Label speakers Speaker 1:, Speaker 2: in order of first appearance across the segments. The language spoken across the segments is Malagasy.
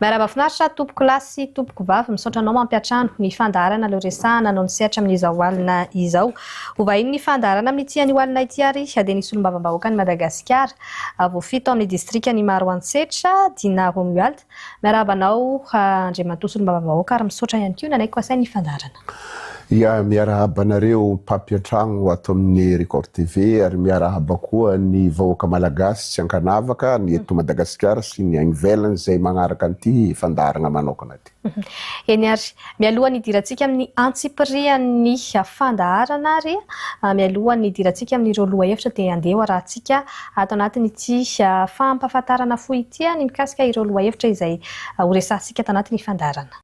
Speaker 1: Miarahaba finaritra tompoko lahy sy tompoko vavy misaotra anao mampiatrano ny fandaharana leo resahana no nisehatra amin'izao alina izao ho vahinin'ny fandaharana amin'ity anio alina ity ary dia ny solombavambahoakan'i Madagasikara vao fito amin'ny distrikan'i Maroantsetra Dinah Romuald miarahaba anao Andriamatoa solombavambahoaka ary misaotra ihany koa nanaiky ho asain'ny fandaharana Ia,
Speaker 2: miarahaba anareo mpampiantragno ato amin'ny Record TV ary miarahaba koa ny vahoaka Malagasy tsy ankanavaka ny eto Madagasikara sy ny any ivelany izay magnaraka an'ity fandaharagna manokana ity. Eny ary,
Speaker 1: mialohan'ny hidirantsika amin'ny antsipirihan'ny fandaharana ary mialohan'ny hidirantsika amin'ireo lohahevitra dia andeha hoarahantsika ato anatin'ity fampahafantarana fohy ity ny mikasika ireo lohahevitra izay horesahantsika ato anatin'ny fandaharana.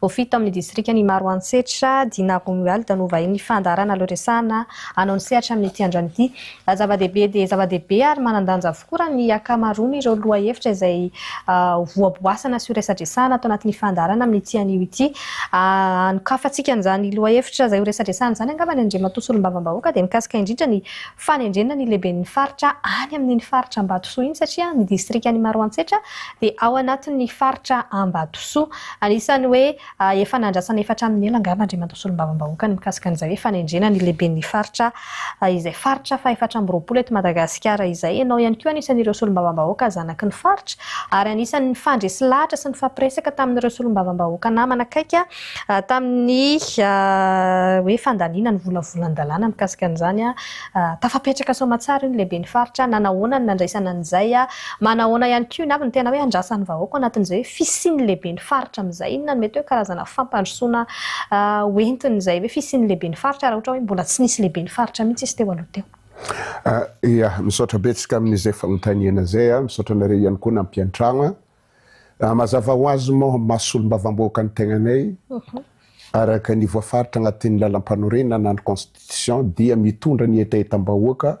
Speaker 1: Vao fito amin'ny distrikan' i Maroantsetra, Dinarong Wild no vahinin'ny fandaharana leo resahana hanao ny sehatra amin'ity androany ity. Raha zava-dehibe dia zava-dehibe ary manan-danja avokoa raha ny ankamaroan'ireo lohahevitra izay hohaboasana sy horesadresahana ato anatin'ny fandaharana amin'ity anio ity. Anokafantsika an'izany lohahevitra izay horesadresahana izany angambany Andriamatoa Solombavambahoaka dia mikasika indrindra ny fanendrena ny lehiben'ny faritra any amin'iny faritra Ambatosoa iny satria ny distrikan'i Maroantsetra dia ao anatin'ny faritra Ambatosoa. Anisan'ny hoe efa nandrasana efa hatramin'ny ela angamba Andriamatoa Solombavambahoaka ny mikasika an'izay hoe fanendrena ny lehiben'ny faritra izay faritra fahefatra amby roapolo eto Madagasikara izay. Ianao ihany koa anisan'ireo Solombavambahoaka zanaky ny faritra ary anisan'ny nifandresy lahatra sy nifampiresaka tamin'ireo Solombavambahoaka namana akaiky Tamin'ny hoe fandaniana ny volavolan-dalàna mikasika an'izany, tafapetraka soamantsara io ny lehiben'ny faritra, nanahoana ny nandraisana an'izay, manahoana ihany koa iny avy ny tena hoe andrasan'ny vahoaka ao anatin'izay hoe fisian'ny lehiben'ny faritra amin'izay, inona no mety hoe karazana fampandrosoana hoentin'izay hoe fisian'ny lehiben'ny faritra raha ohatra hoe mbola tsy nisy lehiben'ny faritra mihitsy izy teo aloha teo. Ia,
Speaker 2: misaotra betsaka amin'izay fanontaniana izay, misaotra anareo ihany koa nampiantrano an, Raha mazava ho azy moa ny maha solombavambahoaka ny tegnanay, araka ny voafaritra agnatin'ny Lalampanorenana na ny Constitution dia mitondra ny hetahetam-bahoaka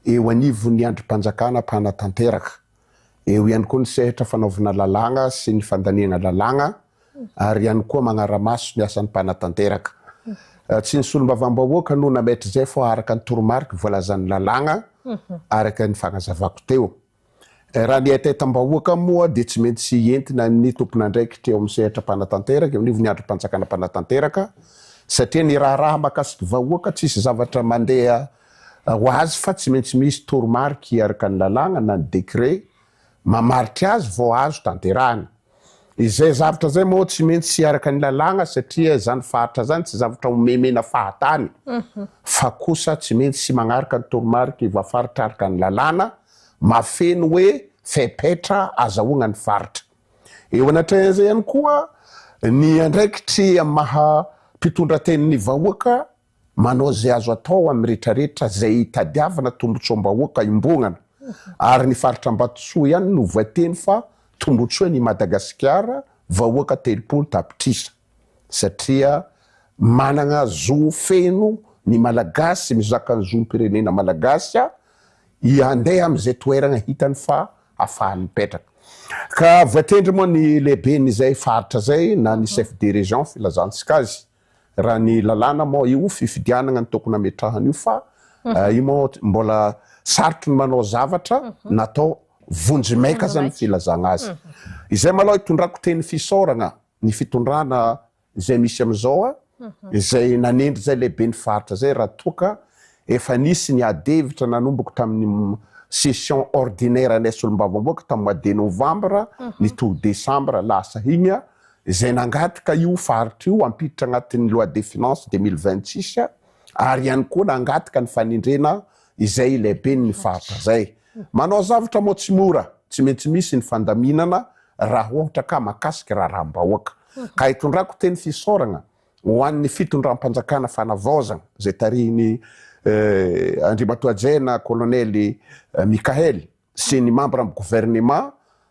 Speaker 2: eo anivon'ny andrim-panjakana mpanatanteraka. Eo ihany koa ny sehatra fanaovana lalàgna sy ny fandaniagna lalàgna ary ihany koa magnara-maso ny asan'ny mpanatanteraka. Tsy ny solombavambahoaka no nametra izay fa araka ny toromariky voalazan'ny lalàgna araka ny fagnazavako teo. Raha ny haitaitam-bahoaka moa dia tsy maintsy entina ny tompon'andraikitra eo amin'ny sehatra mpanatanteraka, eo anivon'ny andrim-panjakana mpanatanteraka, satria ny raharaha mahakasiky vahoaka tsisy zavatra mandeha ho azy fa tsy maintsy misy toromarika araka ny lalàgna na ny décret mamaritra azy vao azo tanterahina. Izay zavtra zay moa tsy mentsy tsy araka ny lalàgna satria zany faritra zany tsy zavtra omemena fahatany fa kosa tsy mentsy tsy magnaraka ny toromariky ny voafaritra araka ny lalàna mahafeno hoe fepetra azahoagna ny faritra. Eo anatrehan'izay ihany koa ny andraikitry amin'ny maha mpitondratenin'ny vahoaka Manao izay azo atao amin'ny retraretra izay hitadiavana tombotsoam-bahoaka hiombonana ary ny faritra Ambatotsoa ihany no voateny fa tombotsoan' i Madagasikara vahoaka telopolo tapitrisa satria manana zo feno ny Malagasy mizaka ny zom-pirenena Malagasy i handeha amin'izay toerana hitany fa hafahany mipetraka ka voatendry moa ny lehiben'izay faritra izay na ny chef de région filazantsika azy Raha ny lalàna moa io fifidianagna no tokony hametrahana io fa io moa mbola sarotro ny manao zavatra natao vonjy maika zany ny filazagna azy. Izay malao itondrako teny fisaoragna ny fitondrana izay misy amizao izay nanendry zay lehibe ny faritra zay raha toa ka Efa nisy ny adihevitra nanomboka tamin'ny session ordinaire anay solombavambahoaka tamin'ny mois de novembre nitohy décembre lasa iny, izay nangataka io faritra io hampiditra anatin'ny loi de finances deux mille vingt six ary ihany koa nangataka ny fanendrena izay lehiben'ny faritra izay. Manao zavatra moa tsy mora, tsy maintsy misy ny fandaminana raha ohatra ka mahakasika raharaham-bahoaka. Ka itondrako teny fisaoragna Ho an'ny fitondram-panjakana fanavaozana izay tarihin'i Andriamatoa Ajena Kolonely Mickaël sy ny mambran'ny governemà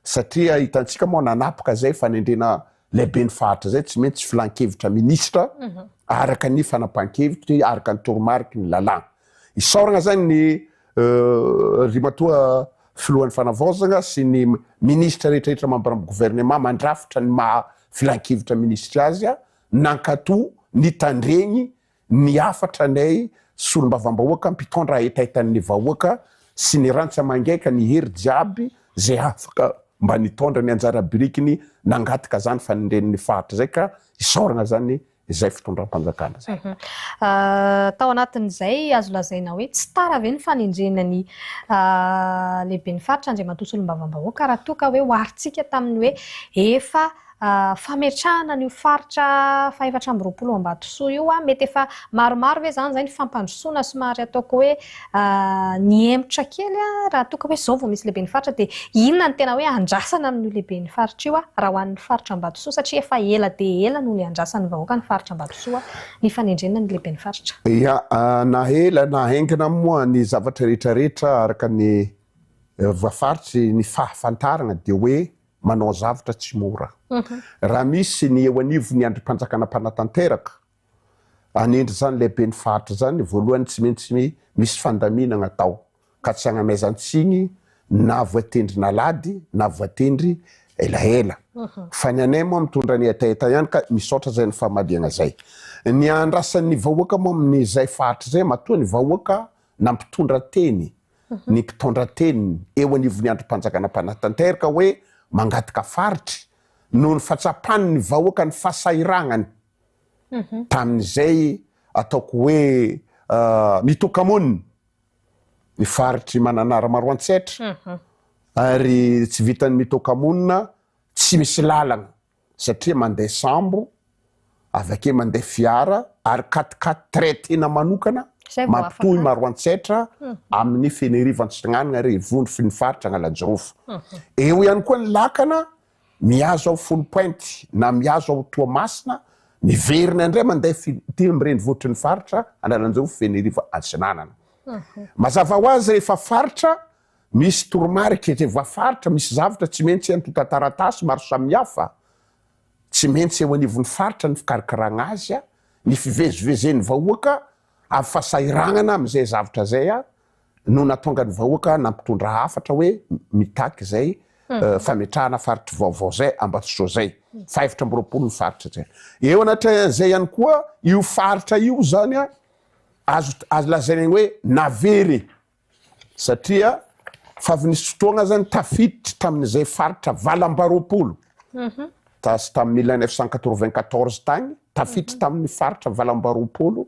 Speaker 2: satria hitantsika moa nanapaka izay fanendrena lehiben'ny faritra izay tsy maintsy filan-kevitra minisitra araka ny fanapahan-kevitry araka ny toromariky ny lalàna. Isaorana izany ny Ry matoa Filohan'ny Fanavaozana sy ny Minisitra rehetrarehetra mambaran'ny Governemant mandrafitra ny maha Filankevitra Minisitry azy a! Nankato ny tandregny ny hafatra anay Solombavambahoaka mpitondra hetahetan'ny vahoaka sy ny rantsy amangaika ny hery jiaby zay afaka mba nitondra ny anjara birikiny nangataka zany fa ny ren'ny Faritra zay ka isaoragna zany izay fitondram-panjakana izay.
Speaker 1: Tao anatin'izay azo lazaina hoe tsy tara ve ny fanendrena ny lehiben'ny faritra Andriamatoa Solombavambahoaka raha toa ka hoe oharintsika tamin'ny hoe efa fametrahana an'io faritra fahefatra amby roapolo Ambatosoa io, mety efa maromaro ve izany izay ny fampandrosoana somary ataoko hoe Nihemotra kely aho raha toa ka hoe izao vao misy lehiben'ny faritra dia inona no tena hoe andrasana amin'io lehiben'ny faritra io raha ho an'ny faritra Ambatosoa satria efa ela dia ela no niandrasan'ny vahoaka ny faritra Ambatosoa ny fanendrena ny lehiben'ny faritra. Ia, na
Speaker 2: ela na haingana moa ny zavatra rehetra rehetra araka ny voafaritry ny fahafantarana dia hoe manao zavatra tsy mora. Raha misy ny eo anivon'ny andrimpanjakana mpanatanteraka hanendry izany ilay ben'ny faritra izany, voalohany tsy maintsy misy fandaminana atao ka tsy hanamaizan-tsiny na voatendry nalady na voatendry elaela. Fa ny anay moa mitondra ny hetaheta ihany ka misaotra izay ny famadihana izay. Ny andrasan'ny vahoaka moa amin'izay faritra izay matoa ny vahoaka na mpitondra teny, ny mpitaondra teny eo anivon'ny andrim-panjakana mpanatanterka hoe mangataka faritry noho ny fahatsapan'ny vahoaka ny fasahirahana ny tamin'izay ataoko hoe mitoka-monina ny faritr'i Mananara Maroantsetra ary tsy vitan'ny mitoka-monina tsy misy lalana satria mandeha sambo avy akey mandeha fiara ary quat-quatre traitena manokana mampitohy Maroantsetra amin'ny Fenerivo Antsiranana ary Vonofy ny faritra Analanjirofo. Eo ihany koa ny lakana Mihazo aho folo pointy na mihazo aho Toamasina, miverina indray mandeha fitia amin'ny renivohitry ny faritra Analanjirofo, Fenerivo, Atsinanana. Mazava ho azy rehefa faritra misy toromarika, rehefa faritra misy zavatra tsy maintsy antontan-taratasy maro samihafa, tsy maintsy eo anivon'ny faritra ny fikarakarana azy, ny fivezivezen'ny vahoaka, amin'ny fahasahiranana amin'izay zavatra izay. no natonga ny vahoaka nampitondra hafatra hoe mitaky izay fametrahana faritry vaovao izay Ambatsotra izay, fahefatra amby roapolo ny faritra izay. Eo anatrehan'izay ihany koa io faritra io izany azo azo lazaina ny hoe navery e! satria fa avy nisy fotoagna izany tafiditry tamin'izay faritra valo amby roapolo tas tamin'ny mille neuf cent quatre-vingt-quatorze tagny tafiditry tamin'ny faritra valo amby roapolo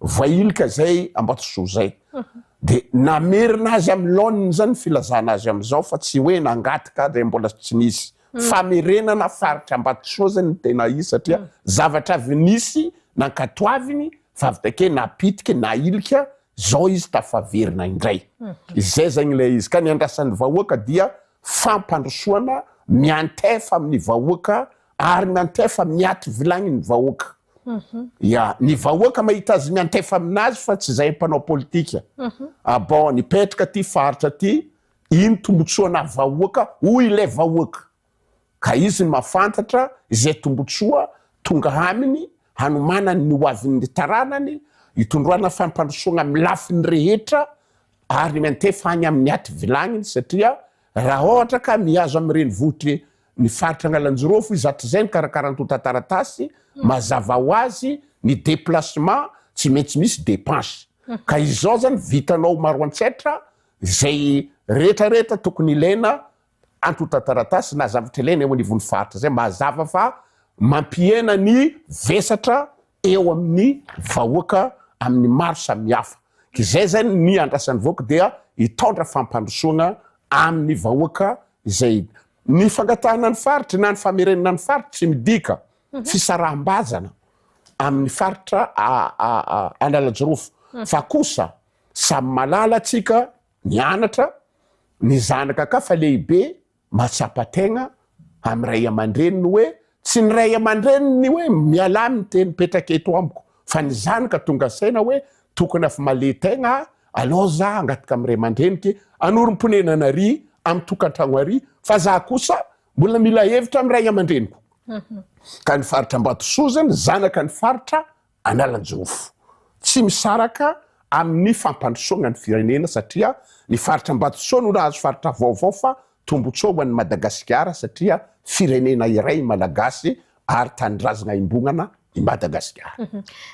Speaker 2: vailika zay ambatosoa zay de namerina azy amin'ny laoniny zany filazana azy amizao fa tsy hoe nangataka de mbola tsy nisy mm. famerenana faritra ambatosoa zay ny tena izy satria mm. zavatra avy nisy nankatoaviny fa avy take napitika nailika zao izy tafaverina indray mm. izay zagny ilay izy ka ny andrasan'ny vahoaka dia fampandrosoana miantefa amin'ny vahoaka ary miantefa miaty vilagny ny vahoaka Ya, ny vahoaka mahita azy miantefa aminazy fa tsy izay mpanao politika. Ah bon, nipetraka aty faritra aty, ino tombotsoa anah vahoaka hoy ilay vahoaka. Ka izy no mahafantatra izay tombotsoa tonga aminy hanomanany ny hoavin'ny taranany, hitondroana fampandrosoana amin'ny lafiny rehetra ary miantefa any amin'ny ativilagniny satria Raha ohatra ka mihazo amin'ny renivohitry ny faritra Analanjirofo izy hatrizay ny karakara antontan-taratasy, mazava ho azy ny déplacement tsy maintsy misy dépense. Ka izao izany vitanao maro an-tsaitra izay rehetra rehetra tokony ilaina antontan-taratasy na zavatra ilaina eo anivon'ny faritra izay mazava fa mampihena ny vesatra eo amin'ny vahoaka amin'ny maro samihafa. Izay izay no ny andrasan'ny vahoaka dia hitaondra fampandrosoana amin'ny vahoaka izay. Ny fangatahana ny faritry na ny famerenana ny faritry tsy midika fisaraham-bazana amin'ny faritra Analajirofo fa kosa samy malala tsika nianatra, ny zanaka ka fa lehibe Mahatsapa tegna amin'ny ray aman-dreniny hoe tsy ny ray aman-dreniny ny hoe mialà amin'ny teny mipetraka eto amiko fa ny zany ka tonga saina hoe tokony afmale tegna aho aloha za hangataka amin'ny ray aman-dreniko e anorim-ponenana ary amin'ny tokantragno ary fa za kosa mbola mila hevitra amin'ny ray aman-dreniko ka ny faritra Ambatosoa zany zanaka ny faritra Analanjofo. Tsy misaraka amin'ny fampandrosoana ny firenena satria ny faritra Ambatosoa no nahazo faritra vaovao fa tombotsoa ho an'i Madagasikara satria firenena iray i Malagasy ary tanindrazana iombonana i Madagasikara.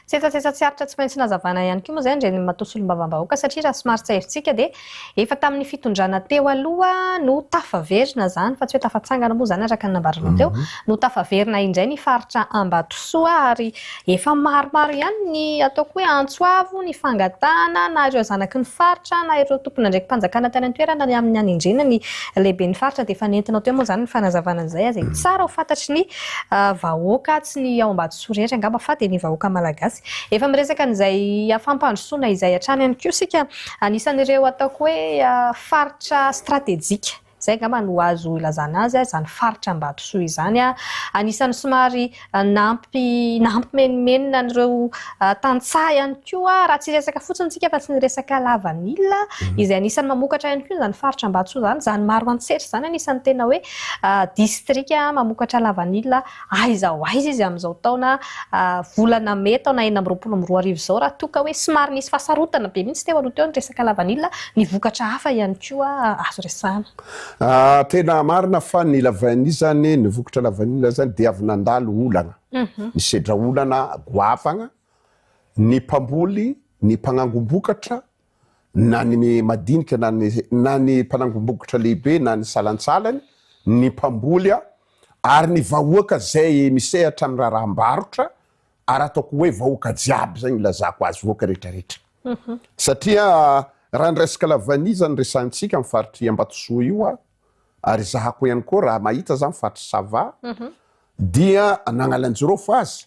Speaker 2: Sesasesa tsy
Speaker 1: aritra tsy maintsy nazavana ihany koa moa izay ny Renimato solombavambahoaka satria raha somary tsairitsika dia Efa tamin'ny fitondrana teo aloha no tafaverina izany, fa tsy hoe tafatsangana moa izany araka ny nambaranao teo, no tafaverina indray ny faritra Ambatosoa ary efa maromaro ihany ny ataoko hoe antso avo nifangatahana na ireo zanaky ny faritra na ireo tompon'andraiki-panjakana tany an-toerana ny amin'ny hanendrena ny lehiben'ny faritra dia efa nentinao teo moa izany ny fanazavana an'izay aza e. Tsara ho fantatry ny vahoaka, tsy ny ao Ambatosoa rehetra angamba fa dia ny vahoaka malagasy. Efa miresaka an'izay fampandrosoana izay hatrany ihany koa isika. Anisan'ireo ataoko hoe faritra stratejika, izay angamba no azo ilazana azy, izany faritra Ambatosoa izany. Anisan'ny somary nampimenomenona an'ireo tantsaha ihany koa, raha tsy hiresaka fotsiny isika fa tsy ny resaka lavanila, izay anisan'ny mamokatra ihany koa izany faritra Ambatosoa izany. Izany Maroantsetra izany anisan'ny tena hoe distrika mamokatra lavanila. Aiza ho aiza izy amin'izao taona, volana mey taona enina amby roapolo amby roa arivo izao raha toa ka hoe somary nisy fahasarotana be mihitsy teo aloha teo ny resaka lavanila, ny vokatra hafa ihany koa azo resahana. Tena
Speaker 2: marina fa ny lavanila izany, ny vokatra lavanila izany dia avy nandalo olana, nisedra olana goavana ny mpamboly, ny mpanangom-bokatra, na ny madinika na ny na ny mpanangom-bokotra lehibe na ny salantsalany, ny mpamboly a, ary ny vahoaka izay misehatra amin'ny raharaham-barotra, ary ataoko hoe vahoaka jiaby izay no ilazako azy, vahoaka rehetrarehetra. Satria raha ny resaka lavanisa no resahintsika amin'ny faritr'i Ambatosoa io a, ary ezahako ihany koa raha mahita za ny faritr'i Sava, dia an'Analanjirofo aza,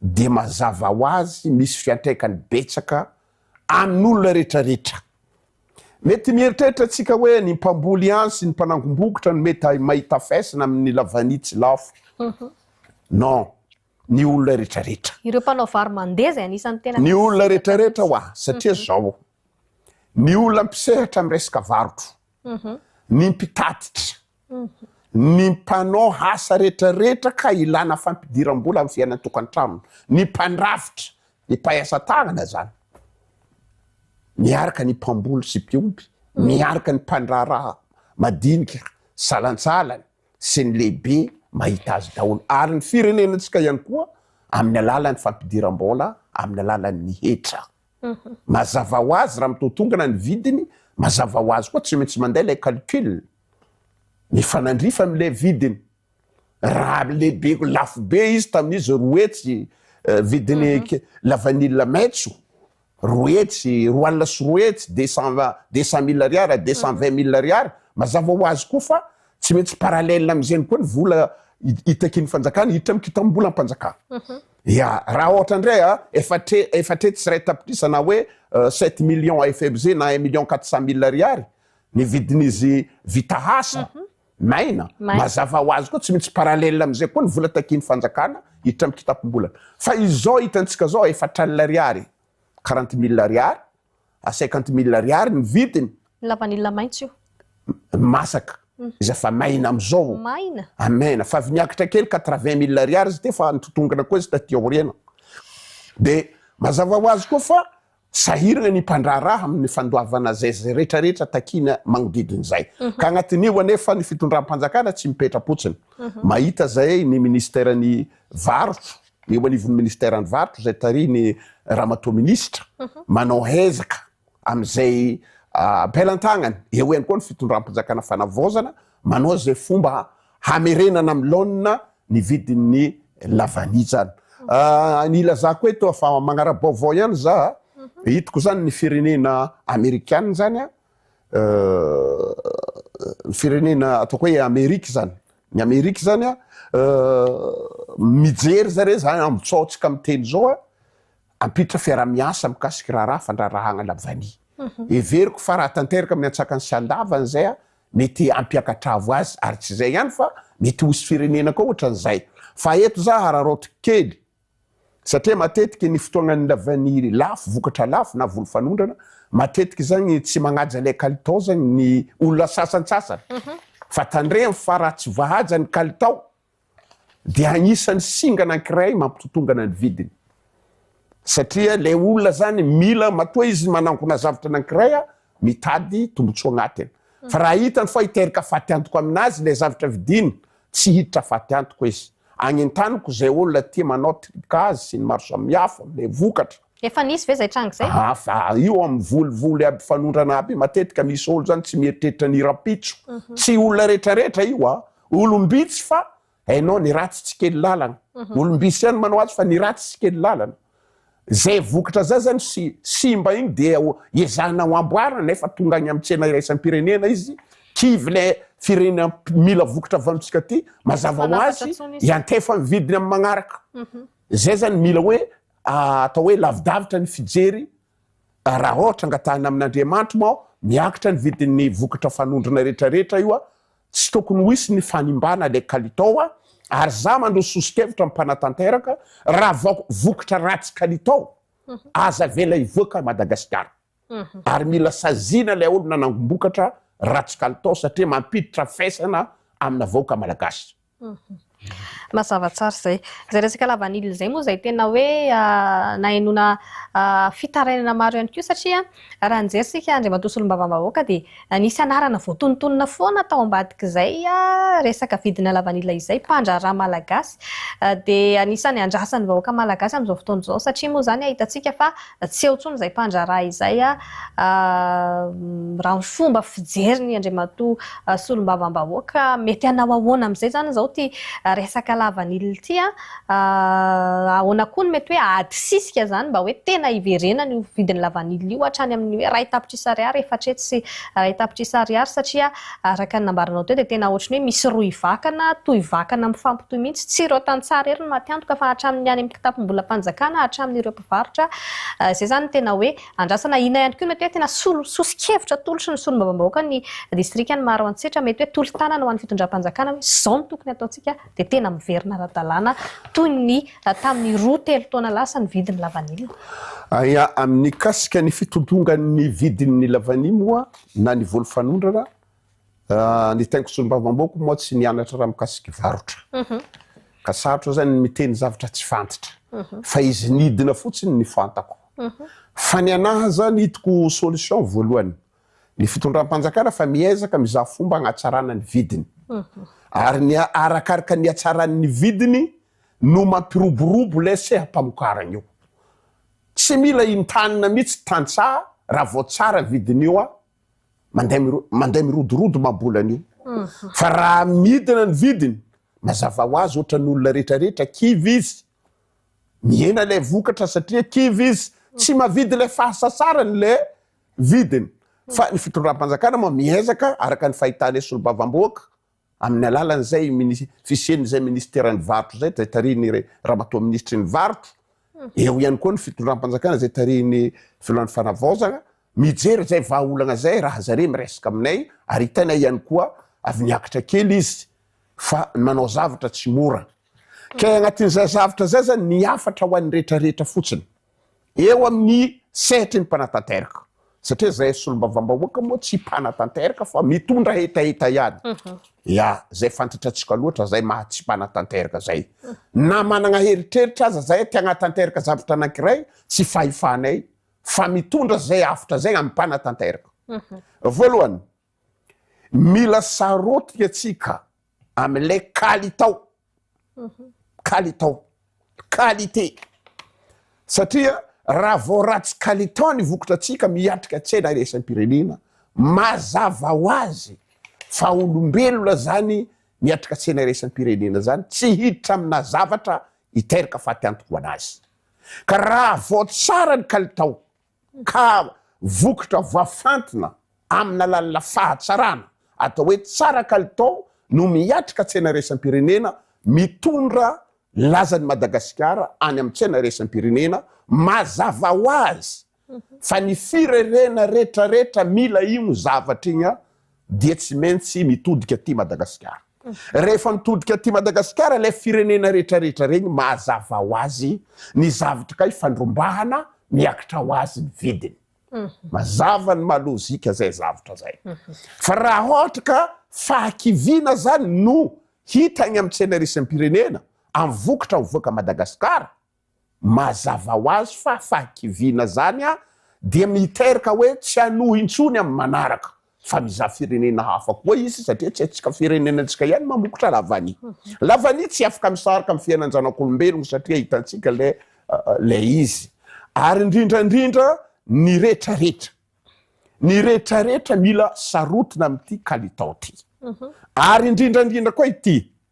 Speaker 2: dia mazava ho azy misy fiantraikany betsaka amin'olona retraretra. Mety mieritreritra tsika hoe ny mpamboly ihany sy ny mpanangom-bokotra no mety mahita faisana amin'ny lavanitsy lafo. Non, ny olona retraretra. Ireo mpanao vary mandeha
Speaker 1: izay anisan'ny tena misy. Ny olona retraretra
Speaker 2: hoa, satria zao, ny olona mpisehatra amin'ny resaka varotra, ny mpitatitra, ny mpanao asa retraretra ka ilana fampidiram-bola amin'ny fiainan'ny tokantrano, ny mpandrafitra, ny mpahay asa tanana zany, miaraka ny mpamboly sy mpiompy, miaraka ny mpandraharaha madinika, salantsalany sy ny lehibe mahita azy daholo ary ny firenenantsika ihany koa amin'ny alalan'ny fampidiram-bola amin'ny alalan'ny hetra. Mazava ho azy raha mitaotongana ny vidiny, mazava ho azy koa tsy maintsy mandeha ilay calcul. Mifanandrify amin'ilay vidiny. Raha lehibe lafo be izy tamin'izy roa hetsy vidiny lavanila maitso, roa hetsy, roa alina sy roa hetsy, deux cent deux cent mille ariary, deux cent vingt mille ariary, mazava ho azy koa fa tsy maintsy parallèle amin'izay koa ny vola hitakian'ny fanjakana hiditra amin'ny kitam-bolam-panjakana. Ia, raha ohatra indray a, efa tre, efa tre tsy iray tapitrisa na hoe sept millions à effebze na un million quatre cent mille ariary ny vidin'izy vita asa, maina, Maina. mazava ho azy koa tsy maintsy parallèle amin'izay koa ny vola takian'ny fanjakana hiditra amin'ny kitapom-bolana. Fa izao hitantsika izao efatra alina ariary, quarante mille ariary, à cinquante mille ariary ny vidiny. Ny lavanila maitso
Speaker 1: io. Ny masaka.
Speaker 2: Iza fa maina amizao. Maina. Amena. Fa avy niakatra kely quatre vingt mille ariary izy ity fa nitotongona koa izy taty aoriana. De mazava ho azy koa fa sahirana ny mpandraharaha amin'ny fandoavana zay zay rehetra rehetra takiana magnodidina izay. Ka agnatin'io anefa ny fitondram-panjakana tsy mipetra-potsiny. Mahita zay ny ministeran'ny varotro. eo anivon'ny ministeran'ny varotra izay tarihin'i Ramatoa Minisitra manao ezaka amin'izay am-pelantagnany. Eo ihany koa ny fitondram-panjakana fanavaozana manao izay fomba hamerenana amin'ny laonina ny vidin'ny lavanijana. Ny ilazako eto fa magnara-baovao ihany za, hitako izany ny firenena amerikana izany, ny firenena ataoko hoe Amerika izany, Ny Amerika zany a, mijery zare zany ambotsaontsika miteny zao a, hampiditra fiarahamiasa mikasika raharaha fandraharahagna lavany. Heveriko fa raha tanteraka amin'ny antsakany sy andavany zay a, mety hampiakatravo azy, ary tsy zay ihany fa mety ho hisy firenena koa ohatran'izay. Fa eto za hararaoty kely, satria matetiky ny fotoagna nilaviany lafo vokatra lafo na voly fanondrana matetiky zagny tsy magnaja lay kalitao zagny ny olona sasantsasany fa tandremo fa raha tsy vahaja ny kalitao dia agnisany singa anankiray mampitotongana ny vidiny satria lay olona zany mila matoa izy manangona zavatra anankiray a mitady tombotsoa agnatiny fa raha hitany fa hiteraka fatiantoka aminazy lay zavatra vidiny Tsy hiditra faty antoka izy. Agnentaniko izay olona tia manao tripkazy sy ny maro samihafa amin'ilay vokatra. Efa nisy ve zay
Speaker 1: tranga zay? Hafa io amin'ny
Speaker 2: volivoly aby fanondrana aby matetika misy olo zany tsy mieritreritra ny rampitso. Tsy olona rehetra rehetra io a! Olom-bitsy fa hainao ny ratsy tsy kely lalana. Olom-bitsy ihany manao azy fa ny ratsy tsy kely lalana. Izay vokatra zay zany sy simba iny dia ezahina ho amboarina nefa tonga any amin'ny tsena iraisam-pirenena izy, kivy ilay firenena mila vokatra avy amintsika ty, mazava ho azy iantefa ny vidiny amin'ny magnaraka. Izay zany mila hoe atao hoe lavidavitra ny fijery Raha ohatra angatahina amin'Andriamanitro moa miakatra ny vidin'ny vokatra fanondrona retraretra io, tsy tokony ho hisy ny fanimbana ilay kalitao ary za mandroso soso-kevitra ny mpanatanteraka raha vao vokatra ratsy kalitao aza avela hivoaka Madagasikara ary mila saziana ilay olona nangombokatra ratsy kalitao satria mampiditra faisana amina vahoaka Malagasy.
Speaker 1: Mazava tsara izay. Izay resaka lavanila izay moa izay tena hoe nahenoana fitarainana maro ihany koa satria raha nijery isika Andriamatoa Solombavambahoaka dia nisy anarana voatonontonona foana tao ambadik'izay resaka vidina lavanila izay, mpandraharaha malagasy dia anisan'ny andrasan'ny vahoaka malagasy amin'izao fotoana izao satria moa izany hitantsika fa Tsy eo intsony izay mpandraharaha izay raha ny fomba fijeriny Andriamatoa Solombavambahoaka. Mety hanao ahoana amin'izay izany izao ity resaka lavanila ity? Ahoana koa no mety hoe adisisika izany mba hoe tena hiverenany io vidin'ny lavanila io hatrany amin'ny hoe iray tapitrisa ariary, efatrehetsy sy iray tapitrisa ariary satria araka ny nambaranao teo dia tena ohatry ny hoe misy rohy vakana, tohy vakana mifampitohy mihitsy. Tsy ireo tantsaha irery no maty antoka fa hatramin'ny any amin'ny kitapom-bolam-panjakana, hatramin'ireo mpivarotra izay izany tena hoe andrasana ina ihany koa mety hoe tena solo soso-kevitra atolotry ny solombavambahoaka ny distrikan'i Maroantsetra mety hoe tolo-tanana ho an'ny fitondram-panjakana hoe izao no tokony ataontsika dia tena miverina ara-dalàna toy ny tamin'ny roa telo taona lasa ny vidin'ny lavanila Ia
Speaker 2: Amin'ny mikasika ny fitodongan'ny vidin'ny lavanila moa na ny voly fanondrana Ny teniko solombavambahoako moa tsy nianatra raha mikasiky varotra. Mhm. Ka sarotra zany ny miteny zavatra tsy fantatra. Mhm. Fa izy nidina fotsiny ny fantako. Mhm. Fa ny anaha zany hitoko solution voalohany. Ny fitondram-panjakana fa miezaka mizaha fomba hanatsarana ny vidiny. Ary ny arakaraka ny hatsaran'ny vidiny no mampiroborobo ilay seha-pamokarana io. Tsy mila intanina mihitsy tantsaha raha vao tsara vidin'io an. mandeha mirodorodo mabola an'io mhm. fa raha midina ny vidiny mazava ho azy ohatrany olona rehetrarehetra kivy izy mihena ilay vokatra satria kivy izy tsy mhm. mavidy ilay fahasasarany ilay vidiny mhm. fa ny fitondram-panjakana ma miezaka araka ny fahitana solobavamboaka Amin'ny alalan'izay fisian'izay minisiteran'ny varotra izay, izay tarihin'ny ramatoa minisitry ny varotra, eo ihany koa ny fitondram-panjakana izay tarihin'ny filohan'ny fanavaozana, mijery izay vahaolana izay raha zareo miresaka aminay ary hitaina ihany koa avy niakatra kely izy fa ny manao zavatra tsy mora. Kay agnatin'izay zavatra izay zany ny hafatra ho an'ny rehetra rehetra fotsiny. eo amin'ny sehatry ny mpanatanteraka satria izay solombavambahoaka moa tsy mpanatanteraka fa mitondra hetaheta ihany ya izay fantatratsika loatra izay maha tsy mpanatanteraka izay na manana heritreritra aza izay te hanatanteraka zavatra anankiray tsy fahefanay fa mitondra izay avotra izay amin'ny mpanatanteraka voalohany Mila sarôtika antsika amin'ilay kalitao, kalitao, qualité, satria raha vao ratsy kalitao ny vokatratsika miatrika tsena iraisam-pirenena, mazava ho azy fa olombelona izany miatrika tsena iraisam-pirenena izany, tsy hiditra aminà zavatra hiteraka fatiantoka ho an'azy. Ka raha vao tsara ny kalitao, ka vokatra voafantina amin'alalna fahatsarana atao hoe tsara kalitao no miatrika tsena iraisam-pirenena mitondra lazan'i Madagasikara any amin'ny tsena iraisam-pirenena, mazava ho azy fa ny firehrena retraretra mila iny zavatra iny dia tsy maintsy mitodika aty Madagasikara. Rehefa mitodika aty Madagasikara ilay firenena retraretra regny mahazava ho azy ny zavtr kay fandrombahana miaktra ho azy ny vidiny. Mazava ny maha lozika zay zavtra zay. Fa raha ohatra ka fahakiviana zany no hita agny am tsenarisem-pirenena am vokatra mivoaka Madagasikara Mazava ho azy fa fahakiviana izany dia miteraka hoe tsy hanohy intsony amin'ny manaraka fa mizaha firenena hafa koa izy satria tsy antsika firenena antsika ihany mamokotra lavani. Lavani tsy afaka misaraka amin'ny fiainan-janak'olombelogno satria hitantsika ilay ilay izy. Ary indrindra indrindra ny retraretra. Ny retraretra mila sarotona amin'ity kalitao ity. Ary indrindra indrindra koa ity,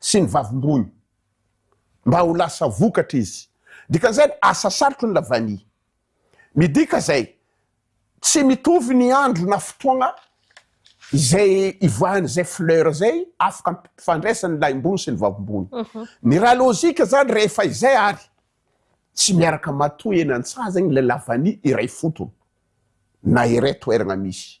Speaker 2: sy ny vavim-bohony mba ho lasa vokatra izy. Dikan'izany, asa sarotro ny lavany. Midika izay, tsy mitovy ny andro na fotoagna izay ivoahan'izay fleur izay afaka ampifandraisany ny lahim-bohony sy ny vavim-bohony. Ny raha lojika izany, rehefa izay ary tsy miaraka matoa eny an-tsaha zegny ilay lavany iray fotony na iray toeragna misy.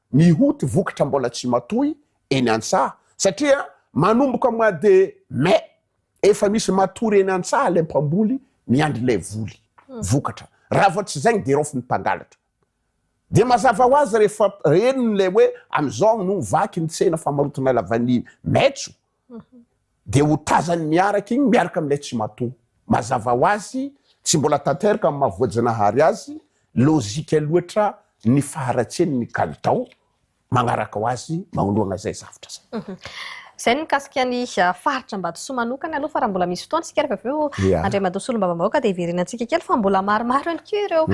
Speaker 2: Mihoty vokatra mbola tsy matoy eny an-tsaha satria manomboka mois de mai efa misy matory eny an-tsaha ilay mpamboly miandry ilay voly, vokatra. Raha vao tsy zay dia raofy ny mpangalatra. Dia mazava ho azy rehefa reniny ilay hoe amin'izao no vaky ny tsena famarotina lavanille maitso Dia ho tazany miaraka iny miaraka amin'ilay tsimatoa. Mazava ho azy, tsy mbola tanteraka amin'ny maha voajanahary azy, lojika loatra ny faharatsiany ny kalitao manaraka ho azy manoloana izay zavtra izay. Izay ny mikasika
Speaker 1: ny faritra Ambatosoa manokana aloha fa raha mbola misy fotoana isika ary avy eo Yeah. Andriamatoa Solombavambahoaka dia hiverenantsika kely fa mbola maromaro ihany koa ireo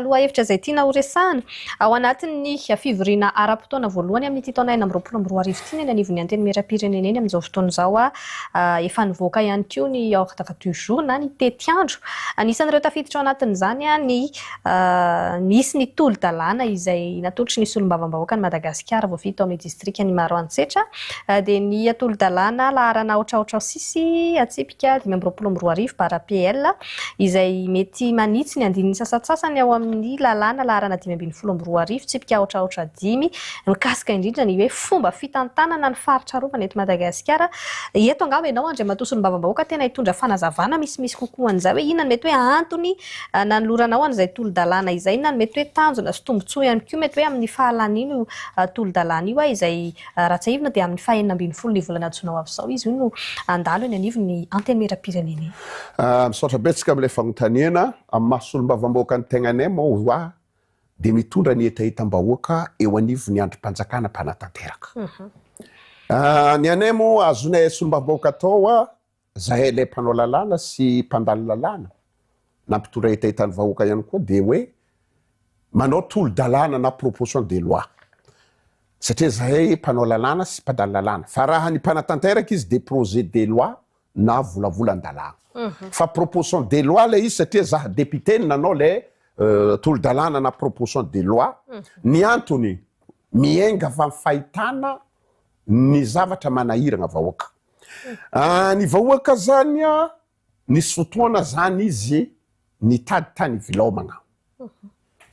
Speaker 1: lohahevitra izay tiana horesahana. Ao anatin'ny fivoriana ara-potoana voalohany amin'ity taona enina amby roapolo amby roa arivo ity ny eny anivon'ny Antenimierampirenena eny amin'izao fotoana izao. Efa nivoaka ihany koa ny ordre du jour na ny tetiandro. Anisan'ireo tafiditra ao anatin'izany ny nisy ny tolo-dalàna izay natolotry ny Solombavambahoakan'i Madagasikara voafidy tao amin'ny distrikan'i Maroantsetra dia ny tolo-dalàna laharana aotraotra ao sisy atsipy. Ka dimy amby roapolo amby roa arivo bara PL, izay mety manitsy ny andininy sasantsasany ao amin'ny Lalàna laharana dimy ambin'ny folo amby roa arivo, tsipika aotra aotra dimy, mikasika indrindra ny hoe fomba fitantanana ny faritra arovana eto Madagasikara. Eto angamba ianao Andriamatoa Solombavambahoaka tena hitondra fanazavana misimisy kokoa an'izay hoe inona no mety hoe antony nanoloranao an'izay tolo-dalàna izay, inona no mety hoe tanjona sy tombontsoa ihany koa mety hoe amin'ny fahalàn'io tolo-dalàna io izay Raha tsiahivina dia amin'ny fahenina ambin'ny folon'ny volana jona ho avy izao izy io no handalo eny anivon'ny Antenimierampirenena eny. Misaotra
Speaker 2: betsaka amin'ilay fanontaniana. Amin'ny maha solombavambahoaka ny tegnanay moa ho'a dia mitondra ny hetahetam-bahoaka eo anivon'ny andrim-panjakana mpanatanteraka. Ny anay moa azonay solombavambahoaka atao ho'a Zahay ilay mpanao lalàna sy mpandalo lalàna na mpitondra hetahetan'ny vahoaka ihany koa dia hoe manao tolo-dalàna na proposition de loi satria zahay mpanao lalàna sy mpandalo lalàna fa raha ny mpanatanteraka izy dia projet de loi na volavolan-dalàna fa proposition de loi ilay izy satria za député no nanao ilay tolo-dalàna na proposition de loi ny antony miainga fa ny fahitana ny zavatra manahiragna vahoaka. Ah ny vahoaka zany ah nisy fotoana zany izy nitady tany Ivilaomana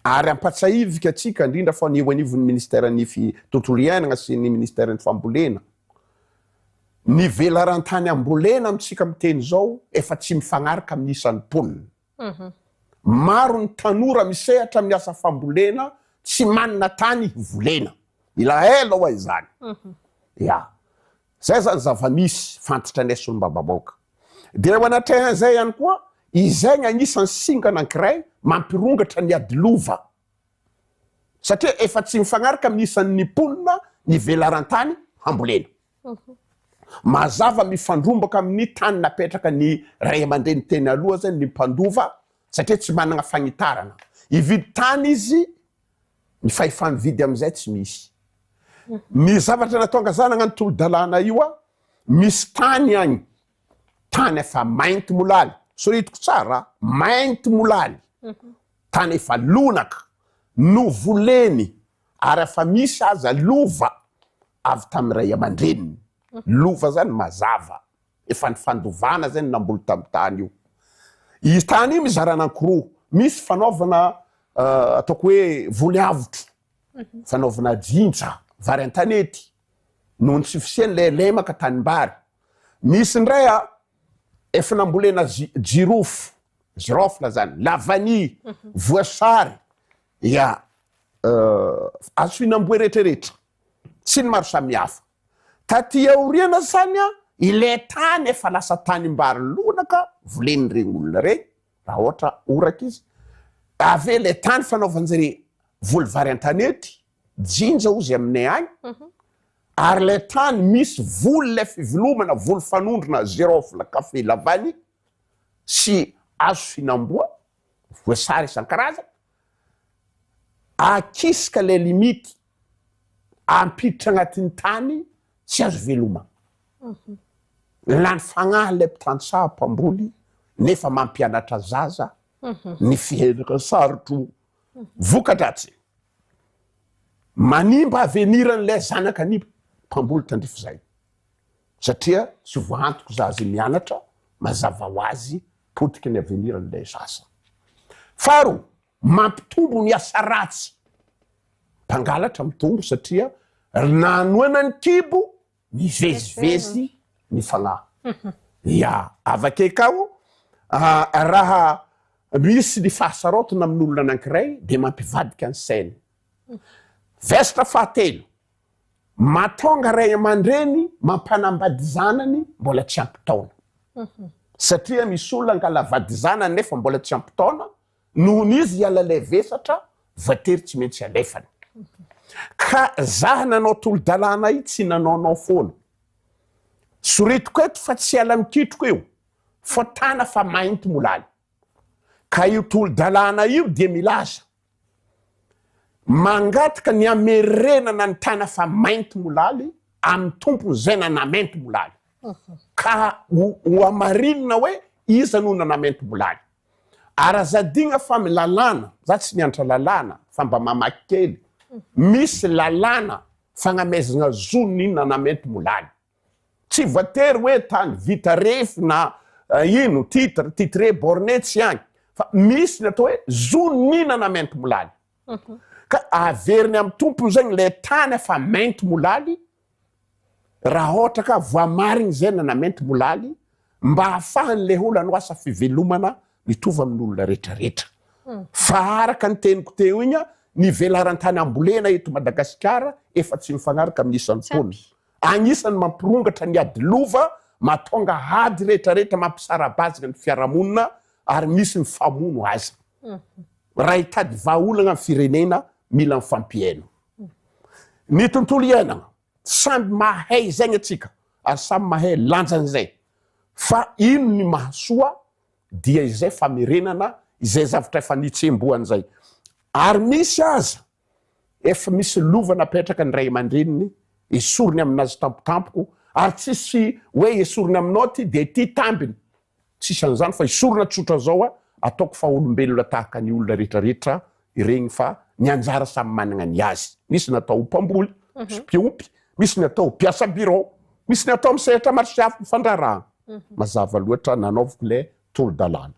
Speaker 2: ary ampatsahiviko atsika indrindra fa ny eo anivon'ny ministère ny fi tontolo iainana sy ny ministère ny fambolena ny velaran-tany ambolena amintsika miteny zao efa tsy mifanaraka amin'ny isan'ny mponina Maro ny tanora misehatra amin'ny asa fambolena tsy manana tany hivolena. Ilaela ho'a izany. Ya. Izay izany zava-misy fantitranay solombavambahoaka. Dia eo anatrehan'izay ihany koa, izay ny anisan'ny singa anankiray mampirongatra ny ady lova. Satria efa tsy mifanaraka amin'ny isan'ny mponina ny velaran-tany hambolena. Mazava mifandrombaka amin'ny tany napetraka ny ray aman-dreny teny aloha zany ny mpandova satria tsy manana fanitarana. Hividy tany izy, ny fahefa-mividy amin'izay tsy misy. Ny zavatra nataongazana agnano tolo-dalàna io a, misy tany agny, tany efa mainty molaly, soritiko tsara a, mainty molaly, tany efa lonaka, novoleny ary afa misy aza lova avy tamin'ny ray aman-dreniny, lova zany mazava, efa nifandovana zay ny namboly tamin'ny tany io, io tany io mizara anankiroa, misy fanaovana ataoko hoe voly avotro, fanaovana jinja, vary an-tanety, noho ny tsy fisian'ilay lemaka tanimbary, misy indray a efa nambolena jirofo, girofle zany, lavania, voasary, ya, Azo fihinam-boay rehetrarehetra sy ny maro samihafa. Taty aoriana izany ilay tany efa lasa tanimbary lonaka volen'ireny olona ireny raha ohatra horaka izy. Avy eo ilay tany fanaovan-dry voly vary an-tanety, jinja hoy izay aminay any, ary ilay tany misy voly ilay fivelomana, voly fanondrona, zirôfla, kafe, lavany sy hazo fihinam-boa. voasary isan-karazany, akisika ilay limite, ampiditra agnatin'ny tany tsy azo veloma. Lany fagnahy ilay mpitantsaha mpamboly nefa mampianatra zaza ny fihetra sarotro vokadratsy manimba aveniran'ilay zanaka ny mpamboly tandrify izay. Satria tsy voantoko zaza mianatra mazava ho azy potiky ny avenir n'ilay zaza. Faharoa, mampitombo ny asa ratsy. Mpangalatra mitombo satria ry nanoana ny kibo mivezivezy ny fanahy. Ya, avake kao raha misy ny fahasaraotina amin'olona anankiray dia mampivadika ny sainy. Vestre fahatelo. Mahatonga ray aman-dreny mampanambady zanany mbola tsy ampy taona. Satria misy olona angala vady zanany nefa mbola tsy ampy taona, noho ny izy hiala ilay vesatra, voatery tsy maintsy alefany. Ka za nanao tolo-dalàna ahy tsy nanaonao foana. Soritiko eto fa tsy ala mikitroka io, fa tana fa mainty molaly. Ka io tolo-dalàna io dia milaza. Mangataka ny hamerenana ny tana fa mainty molaly amin'ny tompony izay nanamainty molaly. Ka ho hohamarinina hoe iza no nanamainty molaly. Ary aza adina fa amin'ny lalàna, za tsy nianatra lalàna fa mba mamaky kely, misy lalàna fagnameazana zo ny nanamainty molaly. Tsy voatery hoe tany vita refy na ino, titre, titre, borne tsy agny fa misy ny atao hoe zoninana mainty molaly ka averiny amy tompony zegny le tany efa mainty molaly ra ôhatra ka voamarigny zay na mainty molaly mba hahafahany le olo anao asa fivelomana mitovy amin'olona retraretra fa araka ny teniko teo igny ny velaran-tany ambolena eto Madagasikara efa tsy mifagnaraka amin'ny isan'ny taona. Agnisan'ny mampirongatra ny ady lova, mahatonga ady rehetrarehetra, mampisara-bazana ny fiarahamonina ary misy ny famono aza. Raha hitady vahaolana ny firenena, mila mifampihaino. Ny tontolo iainana, samby mahay izay ny antsika ary samy mahay lanjan'izay. Fa ino ny mahasoa dia izay famerenana izay zavatra efa nitsembohana izay. Ary misy aza Efa misy lova napetraka ny ray aman-dreniny esoriny aminazy tampotampoko ary tsisy hoe esorina aminao ty dia ty tambiny. Tsisy an'izany fa esorina tsotra zao a, ataoko fa olombelona tahaka ny olona retraretra iregny fa ny anjara samy managna ny azy. Misy ny atao mpamboly, mpiompy, misy ny atao mpiasa birao, misy ny atao amin'ny sehatra maro sy hafa mifandrarahana. Mazava loatra, nanaoviko le tolo-dalàna.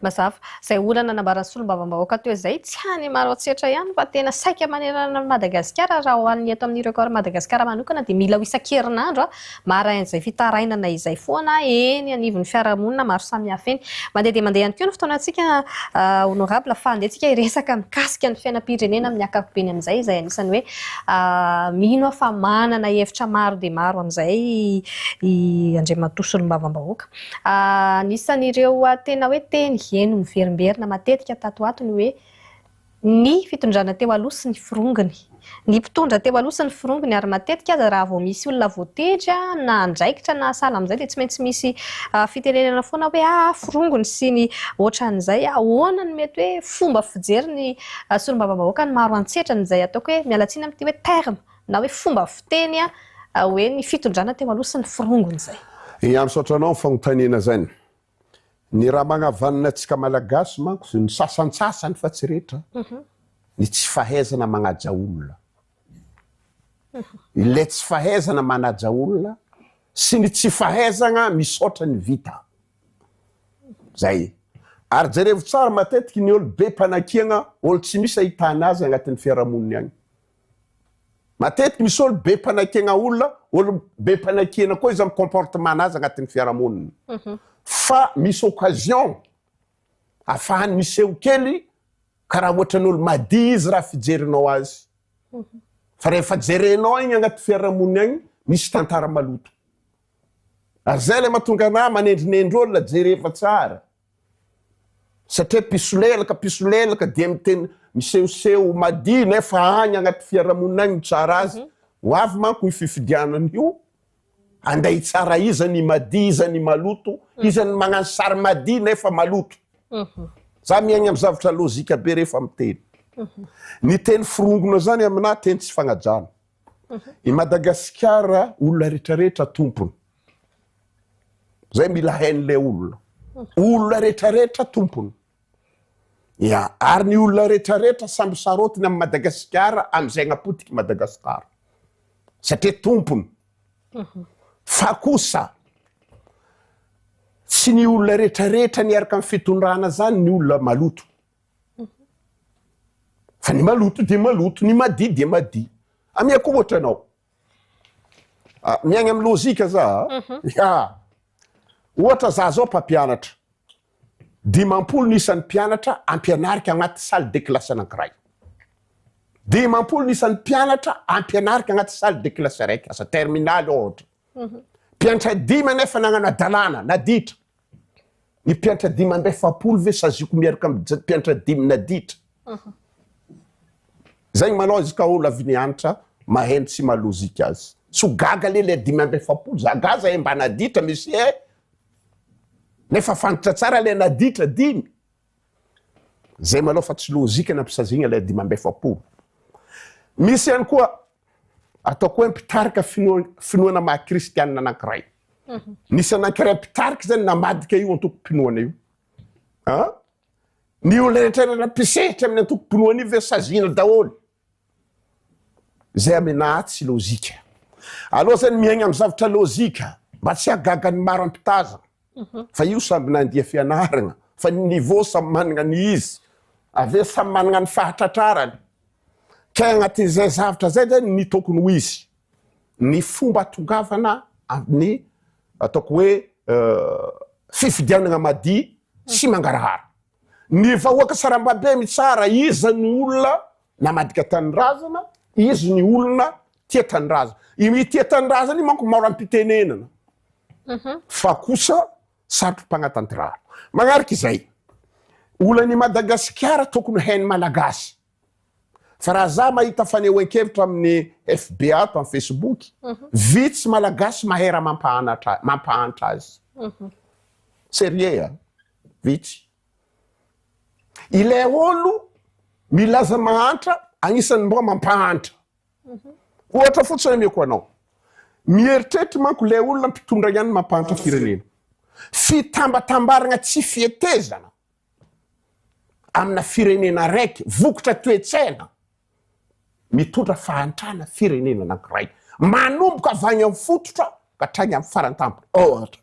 Speaker 1: Mazava. Izay olana nambaran'ny solombavambahoaka teo izay, tsy any Maroantsetra ihany fa tena saika manerana an'i Madagasikara, raha ho an'ny eto amin'ny Record Madagascar manokana dia mila ho isan-kerinandro marain'izay fitarainana izay foana eny anivon'ny fiarahamonina maro samihafa eny. Mandeha dia mandeha ihany koa ny fotoanantsika Honorable fa andehantsika hiresaka mikasika ny fiainam-pirenena amin'ny ankapobeny amin'izay izay anisan'ny hoe mino aho fa manana hevitra maro dia maro amin'izay i Andriamatoa solombavambahoaka. Anisan'ireo tena hoe teny heno miverimberina matetika tato ho ato ny hoe ny fitondrana teo aloha sy ny firongony. Ny mpitondra teo aloha sy ny firongony ary matetika aza raha vao misy olona voatendry na andraikitra na sahala amin'izay dia tsy maintsy misy fitenenana foana hoe ah firongony sy ny ohatran'izay. Ahoana no mety hoe fomba fijery ny solombavambahoaka ny maro antsetrany izay ataoko hoe miala tsiny amin'ity hoe terme Na hoe fomba fiteny hoe ny fitondrana teo aloha sy ny firongony izay. Ia misaotra anao ny
Speaker 2: fagnontanena zany. Ny raha magnavanina antsika malagasy manko, ny sasantsasany fa tsy rehetra, ny tsy fahaizana magnaja olona. Ilay tsy fahaizana manaja olona sy ny tsy fahaizagna misaotra ny vita. Zay. Ary jerevo tsara matetiky ny olo be mpanakiagna, olo tsy misy ahitana azy agnatin'ny fiarahamoniny agny. Matetiky misy olo be panakiagna olona, olo be panakiana koa izany comportement anazy agnatin'ny fiarahamonina. Mhm. Fa misy occasion afahany miseho kely karaha ohatrany olo madiy izy raha fijerinao azy. Mhm. Fa rehefa jerenao igny agnaty fiarahamonina agny, misy tantara maloto. Ary zay le mahatonga anahy manendrinendry olona, jerefa tsara. Satria mpisolelaka mpisolelaka dia miteny misehoseho madio nefa any anaty fiarahamonina any no tsara azy. Ho avy manko io fifidianana io, handeha hitsara iza ny madio iza ny maloto, iza ny magnano sary madio nefa maloto. Za miaigna am zavatra lojika be rehefa miteny. Ny teny forongona zany aminah teny tsy fagnajana. I Madagasikara olona rehetra rehetra tompony. Zay mila hain' le olona. Olona rehetra rehetra tompony. Ya, ary ny olona rehetra rehetra samby sarotiny am Madagasikara amzay agnapotiky Madagasikara. Satria tompony. Mhm. Fa kosa tsy ny olona rehetra rehetra niaraka am fitondrana zany ny olona maloto. Fa ny maloto dia maloto, ny madia dia madia. Amiako ohatra anao. Ah, miaigna amin'ny lojika za. Mhm. Ya. Ohatra za zao mpampianatra. Dimampolo ny isan'ny mpianatra ampianarika agnaty salle de classe anankiray. Dimampolo ny isan'ny mpianatra ampianarika agnaty salle de classe araiky, asa terminaly ohatra. Mpiantra dimy anefa nagnano adalana, naditra. Ny mpiantra dimy amby efapolo ve saziako miaraka amin'ny mpiantra dimy naditra. Zay malao izy ka olo avy ny hanitra maheno sy malozika azy. Tsy ho gaga le le dimy amby efapolo za gaza e mba naditra misy e. Nefa fantatra tsara le naditra dimy. Zay malao fa tsy lojika na mpisazigna lay dimy amby efapolo. Misy ihany koa ataoko hoe mpitarika finoana maha kristianina anankiray. Mhm. Nisy anankiray mpitarika zany namadika io antokom-pinoana io. Ah? Ny olona rehetra nampisehitra amin'ny antokom-pinoana io ve sazina daholo? Zay amenaha tsy lojika. Aleo zany miaigna amin'ny zavatra lojika mba tsy hahagaga ny maro am-pitazana. Fa io samby nandia fianaragna fa ny niveau samy managna ny izy. Avy eo samy managna ny fahatratrarany. Kay agnatin'izay zavatra zay zany ny tokony ho izy ny fomba atongavana amin'ny ataoko hoe fifidianagna madia sy mangarahara. Ny vahoaka sarambabem mitsara iza ny olona namadika tanindrazana, izy ny olona tia tanindrazana. I mitia tanindrazana io manko maro am-pitenenana. Mhm. Fa kosa sarotro mpagnatantiraro. Magnaraka izay, olan'i Madagasikara tokony hain'ny Malagasy. Fa raha za mahita fanehoan-kevitra amin'ny FB ato amin'ny Facebook, mhm. vitsy Malagasy mahay raha mampahantra azy. Mhm. Serieux a! vitsy. Ilay olo milaza mahantra agnisan'ny mba mampahantra. Ohatra fotsiny omeko anao. Mieritreritra manko ilay olona mpitondra ihany mampahantra firenena. Fitambatambaragna tsy fihetezana amina firenena araiky, vokatra toe-tsaina mitondra fahantrana firenena anankiray. Manomboka avy any amin'ny fototra ka hatrany amin'ny faran-tampony. Ohatra.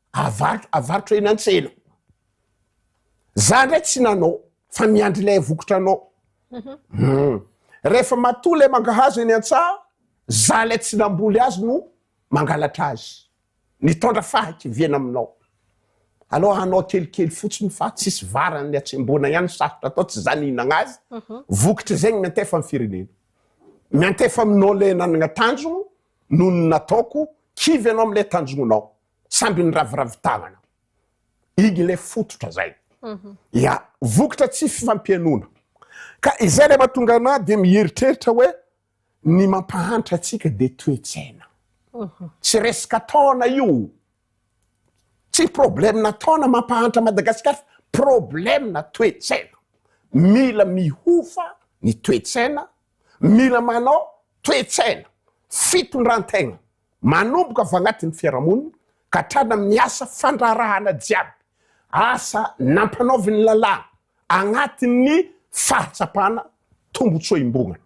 Speaker 2: Avarotra, avarotra eny an-tsena. Za ndray tsy nanao, fa miandry ilay vokotra anao. Mhm. Hmm. Rehefa matoa ilay mangahazo eny an-tsaha, za ilay tsy namboly azy no mangalatra azy. Nitondra fahakiviana aminao. Aloha hanao kelikely fotsiny fa tsisy varan'ny atsembona ihany sarotra atao tsy zany hinagna azy. Mhm. Vokitra zegny miantefa amin'ny firenena. Miantefa aminao ilay nanagna tanjogno noho ny nataoko kivy ianao amin'ilay tanjognonao. samby niraviravy tànana. Igny ilay fototra zay. Ya, vokatra tsy fifampihainoana. Ka izay ilay mahatonga anà dia mieritreritra hoe ny mampahantra antsika dia toe-tsaina. Tsy resaka taona io. Tsy problème-na taona mampahantra Madagasikara fa problème-na toe-tsaina. Mila mihofa ny toe-tsaina, mila manao toe-tsaina, fitondran-tegna. Manomboka avy agnatin'ny fiarahamonina ka hatrany amin'ny asa fandraharahana jiaby, asa nampanaovin'ny lalàna agnatin'ny fahatsapana tombotsoa imbogana.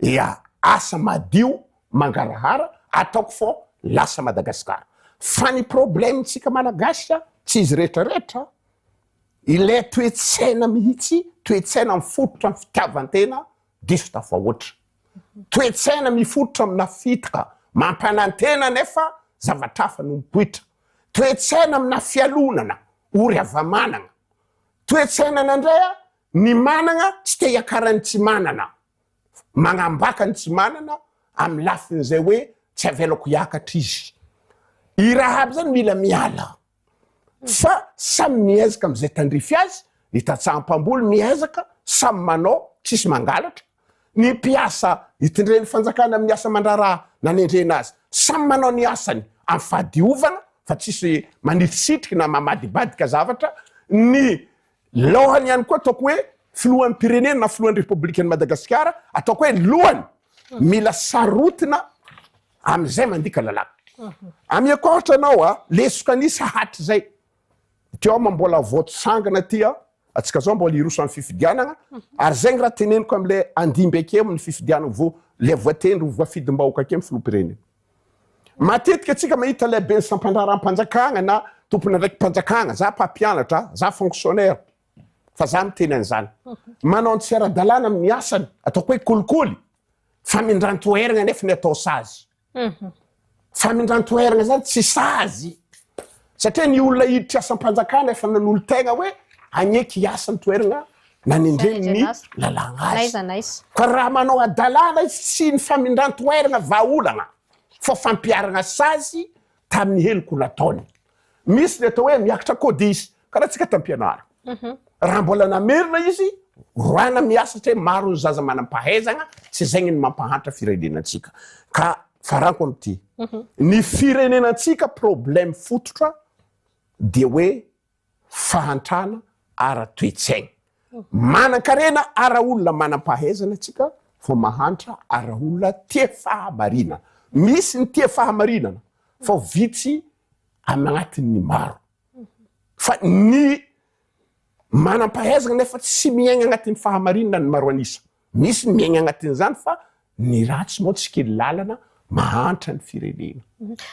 Speaker 2: Ia, asa madio mangarahara ataoko fô lasa Madagasikara. Fa ny problemintsika Malagasy a, tsy izy retraretra, ilay toe-tsaina mihitsy, toe-tsaina mifototra amin'ny fitiavan-tena diso tafahoatra. Toe-tsaina mifototra amina fitoka mampanantena nefa zavatra hafa no mipoitra. Toe-tsaina amina fialonana ory hava-manana. Toe-tsainana indray ny manana tsy te hiakaran'ny tsy manana. Manambaka ny tsy manana amin'ny lafin'izay hoe tsy avelako hiakatra izy. I Rahaba izany mila miala. fa samy miezaka amzay tandrify azy, ny tantsaha mpamboly miezaka samy manao tsisy mangalatra, ny mpiasa itndren'ny fanjakana amin'ny asa mandraraha nanendrena azy samy manao ny asany am fahadiovana fa tsisy manitrisitriky na mamadibadika zavatra, ny laohany ihany koa ataoko hoe filohan'ny pirenena na filohan'ny repoblikan'i Madagasikara ataoko hoe lohany mila sarotina, Amin'izay mandika lalàna. Ameko ohatra anao a, lesoka an'isa hatrizay. Teo aho mbola vao tsangana aty a, antsika zao mbola hiroso amin'ny fifidianagna, ary zay ny raha teneniko amin'ilay handimby akeo amin'ny fifidianagna vao ilay voatendry ho voafidim-bahoaka akeo ny filoham-pirenena. Matetika antsika mahita ilay ben'ny sampan-draharaham-panjakagna na tompon'andraikim-panjakagna, za mpampianatra, za fonctionnaire. fa za miteny an'izany manao ny tsy ara-dalàna amin'ny asany ataoko hoe kolikoly famindran-toeragna nefa ny atao sazy mhm. famindran-toeragna zany tsy sazy satria ny olona hiditra asam-panjakana efa nanolo tegna hoe agneky hiasa ny toeragna nanendrenny lalàna azy ka raha manao adalàna izy tsy ny famindran-toeragna vahaolagna fa fampiaragna sazy tamin'ny heloko nataony misy ny atao hoe miakatra kodisy Karaha antsika tampianara. Raha mbola namerina izy, roahina miasa satria maro ny zaza manam-pahaizana, tsy izay ny mampahantra firenenantsika. Ka farako amin'ity, ny firenenantsika problème fototra dia hoe fahantrana ara-toetsaina. Manan-karena ara-olona manam-pahaizana tsika vao mahantra ara-olona tia fahamarinana. Misy ny tia fahamarinana fa vitsy anatin'ny maro. Fa ny manam-pahaizana nefa tsy miaigna agnatin'ny fahamarinana ny maro an'isa. Misy ny miaigna agnatin'izany fa ny ratsy moa tsy kely lalana mahantra ny firenena.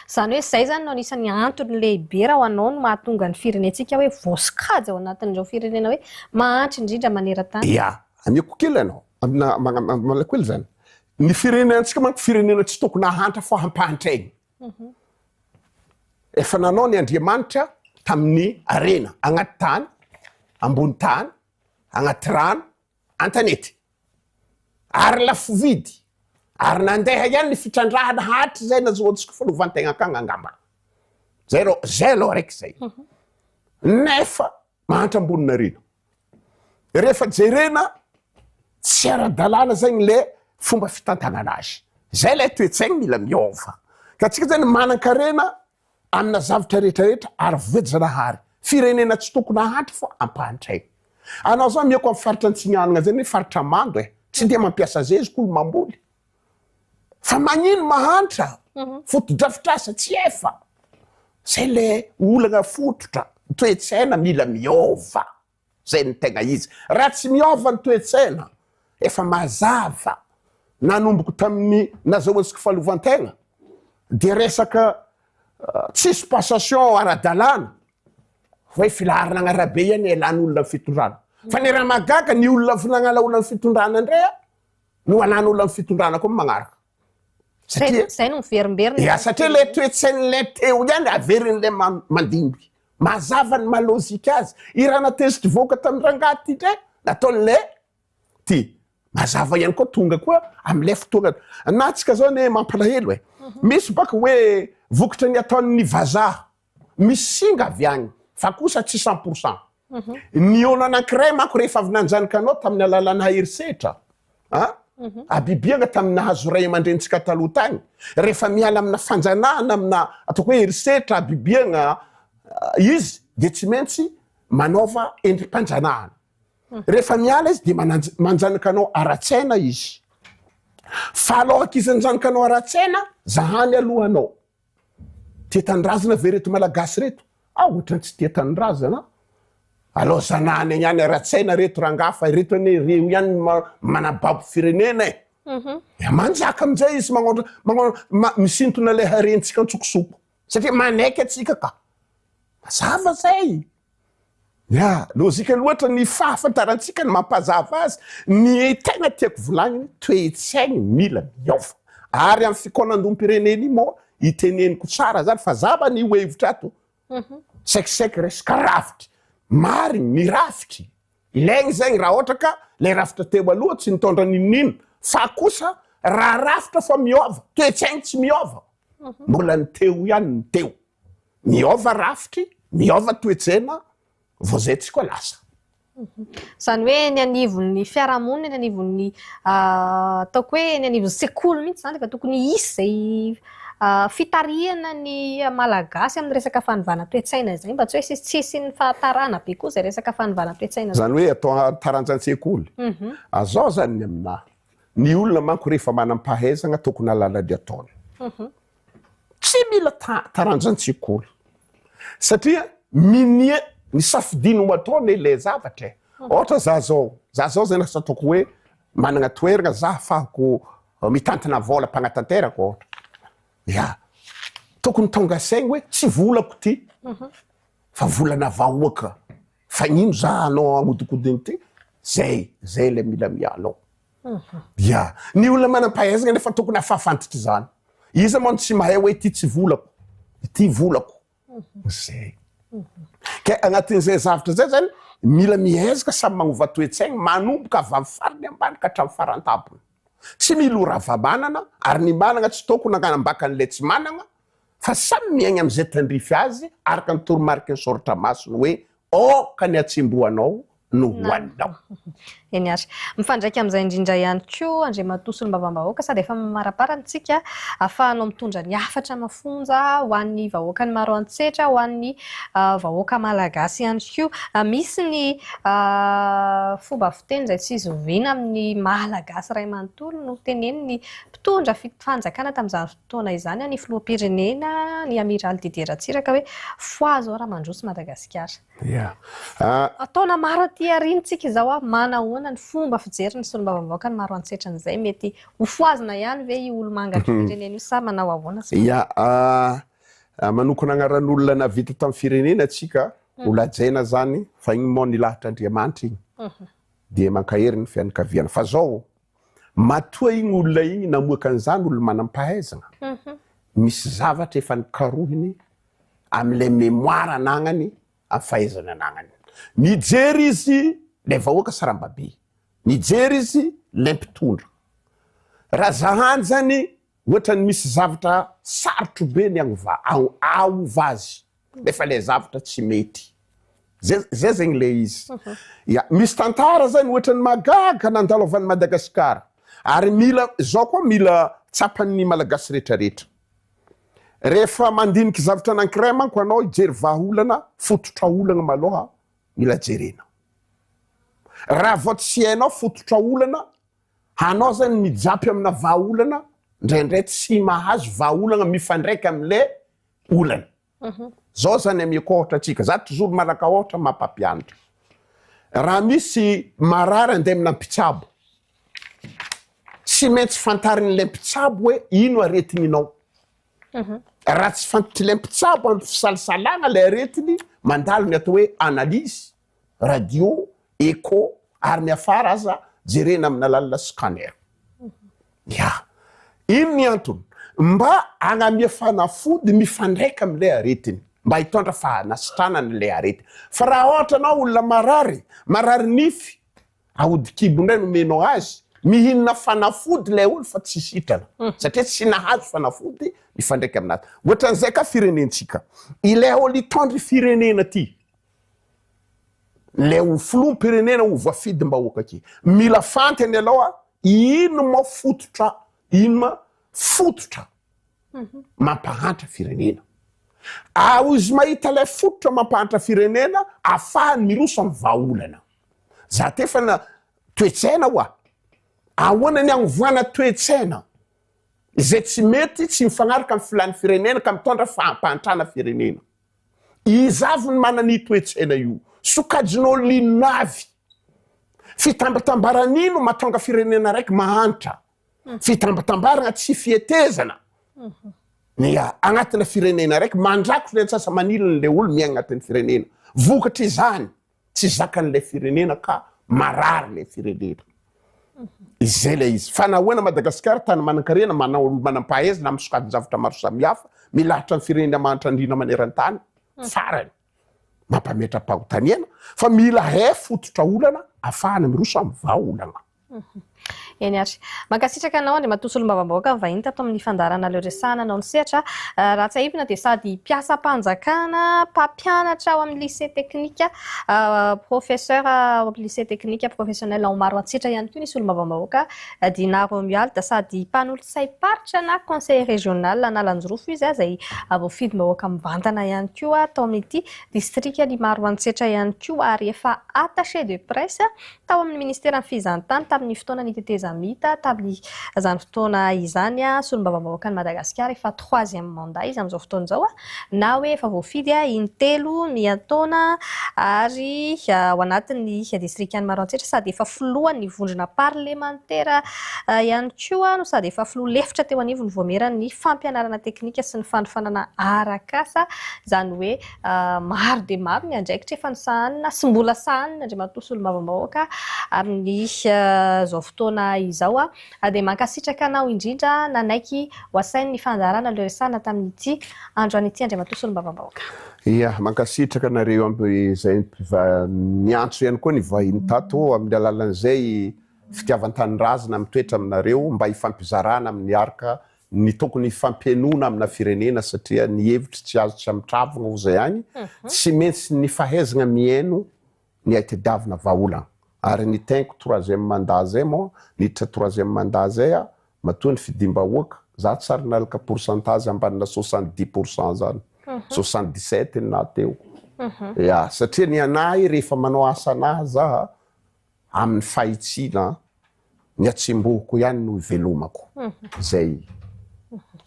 Speaker 2: Izany hoe izay
Speaker 1: izany no anisan'ny antony lehibe raha ho anao no mahatonga ny firenentsika hoe voasokajy ao anatin'ireo firenena hoe mahantra indrindra maneran-tany? Ia, ameko kely
Speaker 2: anao, amina, amina, amina kely izany. Ny firenenantsika manko firenena tsy tokony hahantra fa hampahantra aigny. Efa nanao ny Andriamanitra tamin'ny harena, agnaty tany, ambony tany, agnaty rano, an-tanety. Ary lafo vidy. Ary nandeha ihany ny fitrandrahana hatrizay nazahoantsika fahaleovantegna akagny angamba. Zay aloha, zay aloha araiky zay. Nefa Mahantra Amboninarena. Rehefa jerena tsy ara-dalàna zay ny le fomba fitantanana azy. Zay lay toe-tsaigny mila miova. Ka tsika zany manan-karena amina zavatra rehetra rehetra ary voajanahary. Firenena tsy tokony hahantra fa ampahantraigny. Anao zany mihaiko am faritra Antsimihanagna zay ne faritra mando e. Tsy de mampiasa zeziky olo mamboly. Fa magnino mahantra fotodrafitrasa tsy efa zay le olagna fototra toetsaina mila miova zay no tegna izy raha tsy miova ny toetsaina efa mazava nanomboko tamin'ny nazahoantsika fahalovan-tegna de resaka tsisy passation ara-dalàna hoe filaharana agn'arabe iany elan'olona ny fitondrana fa ny raha mahagaga ny olona avy nagnala olona ny fitondrana ndray a no anan'olona ny fitondrana koa magnaraka satria
Speaker 1: zay no miverimberina ya satria le toetsain'ilay
Speaker 2: teo ihany averin'ilay mandimby mazava ny malozika azy irana test voaka tamin'ny rangahy ty ndray nataon'ilay ty mazava ihany koa tonga koa amin'ilay fotoana natsika zao ne mampalahelo e mhm. misy baka hoe vokatra ny ataon'ny vazaha Misy singa avy any fa kosa tsy cent pour cent. Ny olo anankiray manko rehefa avy nanjanaka anao tamin'ny alalanà herisetra, a habibiana tamin'ny nahazo ray aman-drenintsika taloha tany, rehefa miala aminà fanjanahana, aminà ataoko hoe herisetra, habibiana, izy dia tsy maintsy manaova endri-panjanahana. Rehefa miala izy dia mananj- manjanaka anao ara-tsaina izy. Fa aloak'izy hanjanaka anao ara-tsaina, zahany aloha anao. Tia tanindrazana ve reto malagasy reto? Ah ohatrany tsy tia tanindrazana an! Alao zanahany any any ara-tsaina reto rangaha fa ireto anie reo ihany no manababo firenena e! Dia manjaka amin'izay izy magnaontra misintona ilay harentsika antsokosoko. Satria manaiky antsika ka! Mazava izay! Ya, lojika loatra ny fahafantarantsika ny mampazava azy, ny tena tiako volagniny, toe-tsaigny mila miôva. Ary am fikaonandoham-pirenena io moa iteneniko tsara zany fa za manie ho hevitra ato, saiky saiky resaka rafitry, marigny ny rafitry ilaigny zegny raha ôhatra ka le rafitra teo aloha tsy nitôndra n'inon'ino fa kosa raha rafitra fa miôva, toe-tsaigny tsy miôva, mbola ny teo ihany ny teo. miôva rafitry, miôva toetsaina, vao zay tsy koa lasa. Izany
Speaker 1: hoe eny anivon'ny fiarahamonina, eny anivon'ny ataoko hoe eny anivon'ny sekoly mihitsy izany dia tokony hisy izay fitarihana ny malagasy amin'ny resaka fanovana toetsaina izay mba tsy hoe tsy hisian'ny fahatarana be koa izay resaka fanovana toetsaina izany hoe atao
Speaker 2: taranja an-tsekoly mhm. azao izany ny aminà ny olona manko rehefa manam-pahaizana tokony halala ny ataony mhm. Tsy mila taranja an-tsekoly satria minia ny safidiany ho ataony ilay zavatra e. Mhm. Ohatra za zao, za zao zay lasa ataoko hoe managna toeragna za afahako eh, mitantana vola mpagnatanteraka ohatra. Ya, tokony tonga saigny hoe tsy volako ty mhm. fa volana vahoaka. Fagnino za anao agnodikodiny ty? Zay, zay le mila mialao. Ya, ny olona manam-pahaizana nefa tokony hahafafantitra izany. Iza moa no tsy mahay hoe ity tsy volako, ity volako. Zay. Ka anatin'izay zavatra izay zany, mila miezaka samy magnova toe-tsaigny, manomboka avy amin'ny farany ambany ka hatramin'ny faran-tampony. Tsy milorava manana, ary ny managna tsy tôkony hagnambaka an'ilay tsy managna, fa samy miaigna amin'izay tandrify azy araka ny toromariky ny soratra masina hoe aoka ny hatsembohanao no hohaninao. Eny ary.
Speaker 1: Mifandraika amin'izay indrindra ihany koa Andriamatoa Solombavambahoaka sady efa mamarapara ny tsika ahafahanao mitondra ny hafatra mafonja ho an'ny vahoakan'i Maroantsetra, ho an'ny vahoaka malagasy ihany koa. Misy ny fomba fiteny izay tsy zoviana amin'ny maha-Malagasy iray manontolo no tenenin'ny mpitondra fanjakana tamin'izany Taona izany ny filoham-pirenena, ny Amiraly Didier Ratsiraka hoe foi izao raha mandroso Madagasikara. Yeah. Taona maro aty aoriantsika izao, manahoana ny fomba fijerin'ny solombavambahoaka ny maro antsehitran'izay? Mety ho foazina ihany ve io olomanga ny firenena io sa manao ahoana? Yeah.
Speaker 2: Manokona agnaran'olona navita tamin'ny firenena atsika, mm. ho lajaina zany, fa igny moa nilahatra Andriamanitra igny. Mhm. Dia mankahery ny fianakaviana. Fa zao, Matoa igny olona igny namoaka an'izany olo manam-pahaizagna, misy zavatra efa nikarohiny amin'ilay mémoire anagnany, amin'ny fahaizany anagnany. Mijery izy ilay vahoaka sarambabe, mijery izy ilay mpitondra. Raha za hanjany, ohatran'ny misy zavatra sarotro be ny agnovà, ahovà azy. Nefa le zavatra tsy mety. Zay zay zegny le izy. Ya, misy tantara zany ohatran'ny mahagaga nandalovan'i Madagasikara. Ary mila zao koa mila tsapan'ny malagasy retraretra. Rehefa mandinika zavatra anankiray manko anao hijery vahaolana, fototra olana maloha mila jerena. Raha vao tsy hainao fototra olana, hanao zany mijapy amina vahaolana, ndraindray tsy mahazo vahaolana mifandraika amle olana. Zao zany amiako ohatra atsika, za toujours manaka ohatra mampampianatra. Raha misy marary andeha amina mpitsabo, tsy maintsy fantarin'ilay mpitsabo hoe ino aretiny inao. Raha tsy fantatr'ilay mpitsabo amin'ny fisalasalana ilay aretiny, mandalo ny atao hoe analyse, radio, echo, ary ny afara aza jerena amina lalina scanner. Ya. Ino ny antony? Mba hanamia fanafody mifandraika amin'ilay aretiny, mba hitondra fahanasitranana ilay arety. Fa raha ohatra anao olona marary, marary nify, aody kibo indray no omenao azy, mihinana fanafody ilay olona fa tsy sitrana, satria tsy nahazo fanafody mifandraika amin'azy. Ohatran'izay ka firenentsika. Ilay ol hitondra firenena ity. Ilay ho filoham-pirenena ho voafidim-bahoaka aky. Mila fantany aloha inona ma fototra inona ma fototra mampahantra firenena. Ary izy mahita ilay fototra mampahantra firenena afahany miroso amin'ny vahaolana. Za tefana toe-tsaina hoa. Ahoana ny anovana toe-tsaina izay tsy mety, tsy mifanaraka amin'ny filàn'ny firenena ka mitondra fahampahantrana firenena. Iza avy no manana io toe-tsaina io? Sokajin'olona inona avy? Fitambatambarana ino mahatonga firenena raiky mahantra? Hmm. Fitambatambarana tsy fietezana. Hmm. Ny agnatina firenena raiky mandrakotra ny antsasa-manilin'ilay olo miaigna agnatin'ny firenena. Vokatry izany, Tsy zakan'ilay firenena ka marary ilay firenena. Izay ilay izy. Fa nahoana Madagasikara, tany manan-karena, manao manam-pahaizina amin'ny sokajin-javatra maro samihafa, milahatra ny firenena mahantra indrindra maneran-tany, farany, mampametra-pahotaniana, fa mila hay fototra olana, afahana miroso amin'ny vahaolana.
Speaker 1: Eny ary. Mankasitraka anao Andriamatoa Solombavambahoaka vahiny tato amin'ny fandaharana Leo Resahana anao ny sehatra. Raha tsahivina dia sady mpiasam-panjakana, mpampianatra ao amin'ny lycée teknika, professeur ao amin'ny lycée teknika professionnel ao Maroantsetra ihany koa ny Solombavambahoaka Dinah Romuald, sady mpanolotsaim-paritra na conseiller régional Analanjirofo izy izay voafidim-bahoaka mivantana ihany koa tao amin'ity distrikan'i Maroantsetra ihany koa ary efa attaché de presse Tao amin'ny Ministeran'ny Fizahantany tamin'ny fotoana nitetezamita tamin'izany fotoana izany Solombavambahoakan'i Madagasikara efa troisième mandat izy amin'izao fotoana izao na hoe efa voafidy in-telo miantaona ary ao anatin'ny Distrikan'i Maroantsetra sady efa Filohan'ny Vondrona Parlemantera ihany koa no sady efa Filoha lefitra teo anivon'ny Vaomieran'ny Fampianarana Teknika sy ny Fanofanana Arak'asa izany hoe Maro dia maro ny andraikitra efa nosahanina sy mbola sahanin' Andriamatoa Solombavambahoaka amin' izao fotoana izao. Dia mankasitraka anao indrindra nanaiky ho asain' ny fandaharana ilay resahana tamin' ity andro an' ity Andriamatoa Solombavambahoaka. Ia, mankasitraka
Speaker 2: anareo aby izay mpiva niantso ihany koa ny vahiny tato amin' ny alalan' izay fitiavan-tanindrazana mitoetra aminareo mba hifampizarana amin' ny arc ny tokony hifampihainoana amina firenena satria ny hevitry tsy azo tsy amitravogna ho zay agny tsy maintsy ny fahaizagna mihaino ny aitedavina vahaola ary ny tenko troisième mandat zay mô niditra troisième mandat zay a matoa ny fidim-bahoaka za tsy ary nalaka pourcentage ambanina soixante dix pour cent zany soixante dix sept na teo ya satria ny anahy rehefa manao asa anahy za amin'ny fahitsiana ny hatsembohiko ihany no hivelomako zay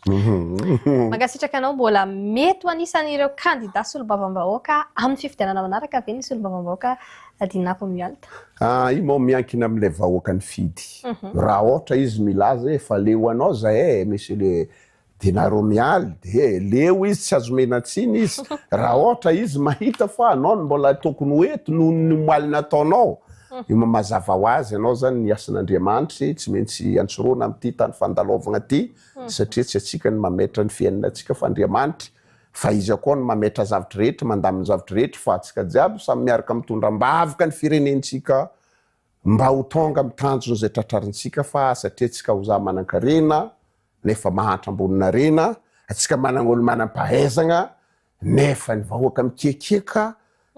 Speaker 1: Mankasitraka anao mbola mety ho anisan'ireo kandida solombavambahoaka amin'ny fifidianana manaraka ve ny solombavambahoaka Dina Romuald? Ah, io moa
Speaker 2: miankina amin'ilay vahoaka nifidy. Raha ohatra izy milaza hoe fa leo anao zahay, monsieur le Dia nareo mialy dia leo izy tsy azo omena tsiny izy raha ohatra izy mahita fa anao no mbola tokony ho eto noho ny omaly nataonao. Io mazava ho azy ianao izany ny hasin'Andriamanitry tsy maintsy antsoroana amin'ity tany fandalaovagna ity satria tsy antsika no mametra ny fiainantsika fa Andriamanitry fa izy akoa no mametra zavitr'rehetra mandaminy zavitr'rehetra fa antsika jiaby samy miaraka mitondra ambavaka ny firenentsika Mba ho tonga amin'ny tanjona izay tratrarintsika fa satria antsika ho za manankarena nefa mahantra amboninarena, antsika manana olo manam-pahaizagna nefa ny vahoaka mikiakiaka,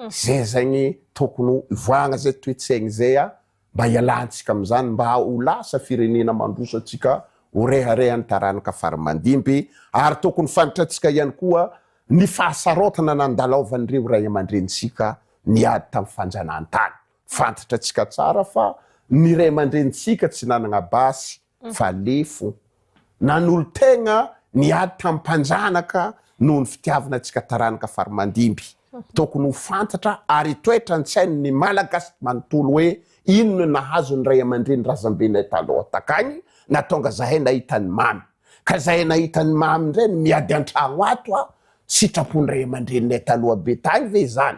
Speaker 2: zay zegny tokony ho ivoahagna zay toetsaigny zay a, mba hialantsika amin'izany mba ho lasa firenena mandroso antsika ho reharehan'ny taranaka fara mandimby ary tokony fantatrantsika ihany koa ny fahasarotana nandalaovan'ireo ray aman-drenintsika niady tamin'ny fanjanahantany. Fantatratsika tsara fa ny ray aman-drenintsika tsy nanana basy fa lefo. Nanolo-tegna ny ady tamin'ny mpanjanaka noho ny fitiavana antsika taranaka fari-mandimby. Tokony ho fantatra ary hitoetra an-tsain' ny Malagasy manontolo hoe inona no nahazo ny ray aman-dreny razambenay taloha takagny na tonga zahay nahita ny mamy. Ka zahay nahita ny mamy ndray no miady an-tragno ato a! Sitrapon'ny ray aman-dreninay taloha be tagny ve izany?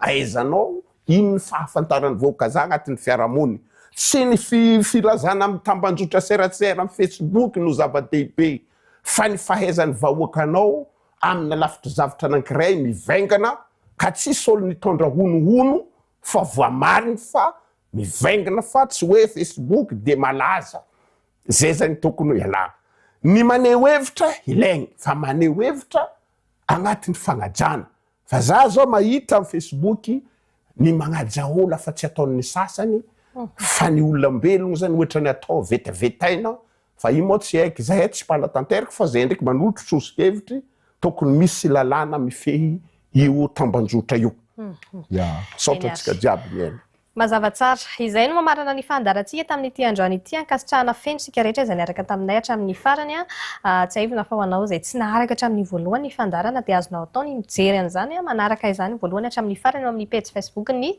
Speaker 2: Ahaizanao ino ny fahafantaran'ny vahoakazahy anatin'ny fiarahamony? Tsy ny filazana amin'ny tambanjotra seratsera amin'ny Facebook no zava-dehibe fa ny fahaizan'ny vahoakanao amina lafitr'zavtra anankiray mivaingana ka tsisy ol nitondra honohono fa voamariny fa mivaingna fa tsy hoe Facebook dia malaza zay zany tokony ho ialana ny maneho hevitra ilaigny fa maneho hevitra agnatin'ny fagnajana. Fa za zao mahita am Facebook ny magnaja ola fa tsy ataon'ny sasany fa ny olambelogno zany ohatrany atao vetavetaina fa io moa tsy haiko zahay tsy mpanatanteraka fa zahay ndraiky manolotro soso-kevitry tokony misy lalàna mifehy io tambanjotra io. Ya. Misaotra antsika jiaby mihaino. Mazava tsara.
Speaker 1: Izay no mamarana ny fandaharantsika tamin'ity androany ity. Ankasitrahana feno isika rehetra izay niaraka taminay hatramin'ny farany. Tsiahivina fa ho anao izay tsy naharaka hatramin'ny voalohany ny fandaharana dia azonao atao ny mijery an'izany manaraka izany voalohany hatramin'ny farany eo amin'ny pejy Facebook-n'ny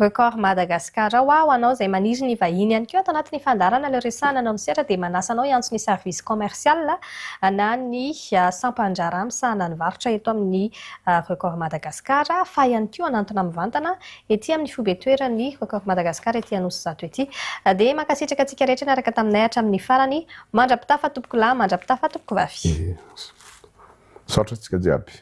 Speaker 1: Record Madagascar ao. Ho anao izay maniry ny hivahiny ihany koa ato anatin'ny fandaharana Le Resahana anao misehatra dia manasa anao hiantso ny Service Commercial na ny Sampan-draharaha misahana ny varotra eto amin'ny Record Madagascar fa ihany koa hanantona mivantana ety amin'ny foibe toeran'ny Rock of Madagascar ety Anosizato ety. Dia mankasitraka antsika rehetra niaraka taminay hatramin'ny farany. Mandra-pitafa tompoko
Speaker 2: lahy,
Speaker 1: mandra-pitafa tompoko vavy. Misaotra
Speaker 2: antsika
Speaker 1: jiaby.